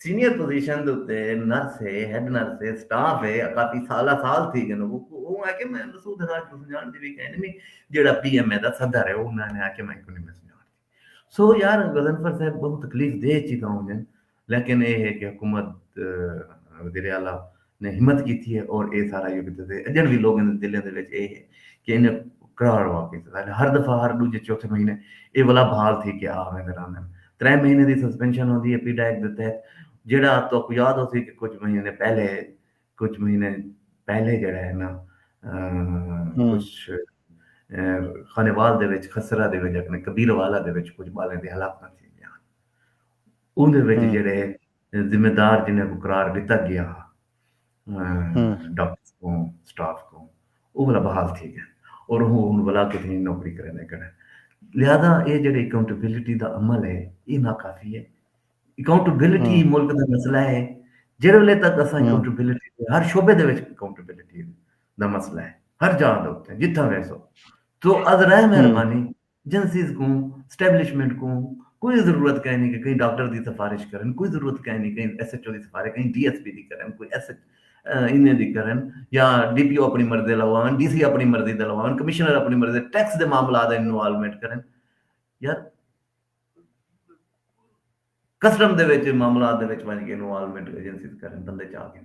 سینئر پوزیشن دے اتے نرس ہے، ہیڈ نرس ہے، سٹاف ہے، کافی سالاں سال تھی گن اوہ آکھیا میں مسعود ہراج کوں سنجاݨ دی وی کائنی میں جیڑھا پی ایم اے دا صدر ہے اوہ میں آکھیا میں کیوں نی میں سنجاݨ دی سو یار غضنفر صاحب بہوں تکلیف دہ چیزاں ہوندین لیکن اے ہے کہ حکومت وزیر اعلی نے ہمت کیتی ہے اور اے سارا یو کیتے تے اجن وی لوگیں دے دلیں دے وچ اے ہے کہ انج کراڑ واقعی تھے دا ہر دفعہ ہر ڈوجھے چوتھے مہینے اے ولا بحال تھی کے آ ویندے راندن ترے مہینے دی سسپینشن ہوندی ہے پی ڈائیک دے تحت جیڑا تہاکوں یاد ہوسی کہ کچھ مہینے پہلے کچھ مہینے پہلے جیڑا ہے نا کچھ خانیوال دے وچ خسرہ دے وچ اپنے کبیر والا دے وچ کچھ بالیں دے ہلاکتاں تھی گیا اون دے وچ جیڑے ذمہ دار جنہاں کوں قرار ݙتا ڳیا ہا ڈاکٹرز کوں سٹاف کوں او والا بحال تھی ڳئن اور اوہ ہن ولا کوں تھیں نوکری کریندے کن لہذا اے جیڑھے اکاؤنٹیبلٹی دا عمل ہے اے ناکافی ہے اکاؤنٹیبلٹی ہی ملک دا مسئلہ ہے جیڑھے ویلے تک اساں اکاؤنٹیبلٹی دے ہر شعبے دے وچ اکاؤنٹیبلٹی دا مسئلہ ہے ہر جاہ دے اوتے جتھاں ویسو تو از رہ مہربانی ایجنسیز کوں، اسٹیبلشمنٹ کوں کوئی ضرورت کائنی کہ کہیں ڈاکٹر دی سفارش کرن، کوئی ضرورت کائنی کہیں ایس ایچ او دی سفارش کہیں ڈی ایس پی دی کرن، کوئی ایس ایچ اینے دی کرن یا ڈی پی او اپنی مرضی دا لواون، ڈی سی اپنی مرضی دا لواون، کمشنر اپنی مرضی دا ٹیکس دے معاملات اچ انوالومنٹ کرن۔ یار کسٹم دے وچ معاملات دے وچ ونج کے انوالومنٹ ایجنسیز کرن، بندے چاہ گن۔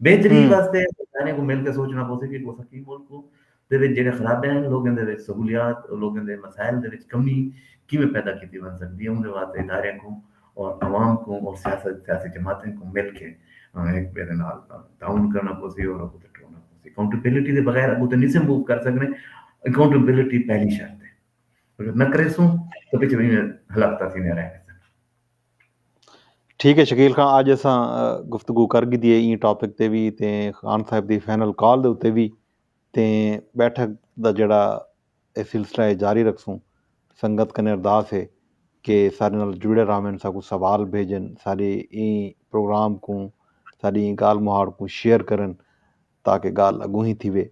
بہتری واسطے ساریں کوں مل کے سوچنا پوسی کہ اساں کیں ملک کوں دے وچ جیڑھے خرابیاں ہن لوکیں دے وچ سہولیات لوکیں دے مسائل دے وچ کمی کیویں پیدا کیتی ونج سکدی ہے اوندے واسطے اداریاں کوں اور عوام کوں اور سیاست سیاسی جماعتیں کوں مل کے ہک ٻئے دے نال تعاون کرنا پوسی اور اگوں تے ٹرنا پوسی اکاؤنٹیبلٹی دے بغیر اگوں تے نیسے موو کر سکنے اکاؤنٹیبلٹی پہلی شرط ہے اگر نہ کریسوں تو پچھے وہیں ہلاکتاں تھیندیاں رہ ویسن ٹھیک ہے شکیل خان اج اساں گفتگو کر گھدی ہے این ٹاپک تے وی تے خان صاحب دی فائنل کال دے اتے وی تے بیٹھک دا جڑا اے سلسلہ ہے جاری رکھسوں سنگت کنے ارداس ہے کہ سارے نال جڑے راون ساکو سوال بھیجن سارے این پروگرام کو ساری این گال مہاڑ کو شیئر کرن تاکہ گال اگوں ہی تھی وے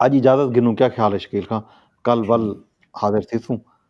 اج اجازت گھنوں کیا خیال ہے شکیل خان کل ول حاضر تھیسوں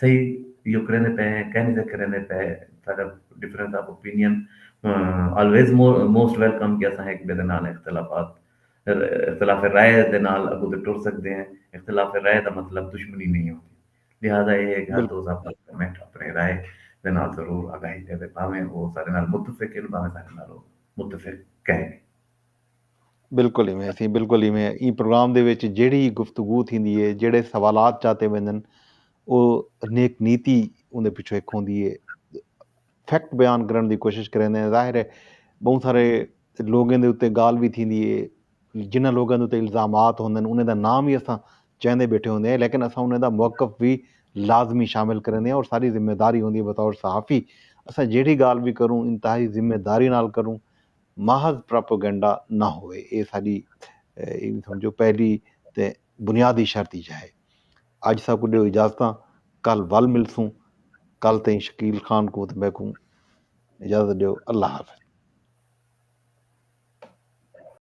صحیح یو کریندے پئے ہیں کہنی سے کریندے پئے ساڈا difference of opinion always most welcome کہ اساں ہک بے دے نال اختلافات اختلاف رائے دے نال اگوں تے ٹر سکدے ہیں اختلاف رائے دا مطلب دشمنی نہیں ہوندی لہذا اے ہے کہ ہر دوست اپنا کمنٹ اپنے رائے دے نال ضرور آگاہی دے بھاویں او سارے نال متفق ہیں بھاویں سارے نال متفق کہیں بالکل ایویں اسی بالکل ایویں ایں پروگرام دے وچ جیڑی گفتگو تھیندی ہے جیڑے سوالات چاتے ویندن او نیک نیتی اوندے پیچھے ایک ہوندی ہے فیکٹ بیان کرن دی کوشش کریندے ہیں ظاہر ہے بہت سارے لوگوں دے اتنے گال بھی تھیندی ہے جنہ لوگوں دے اتنے الزامات ہوندے ہیں انہیں دا نام بھی اساں چاہندے بیٹھے ہوندے ہیں لیکن اساں انہیں دا موقف بھی لازمی شامل کریندے ہیں اور ساری ذمہ داری ہوندی ہے بطور صحافی اساں جیڑی گال بھی کروں انتہائی ذمہ داری نال کروں محض پراپوگنڈا نہ ہووے اے ساڈی اینویں سمجھو پہلی تے بنیادی شرط ای چاہے۔ اج ساکوں ڈیو اجازتاں کل ول ملسوں کل تئیں شکیل خان کوں تے میکوں اجازت ڈیو اللہ حافظ۔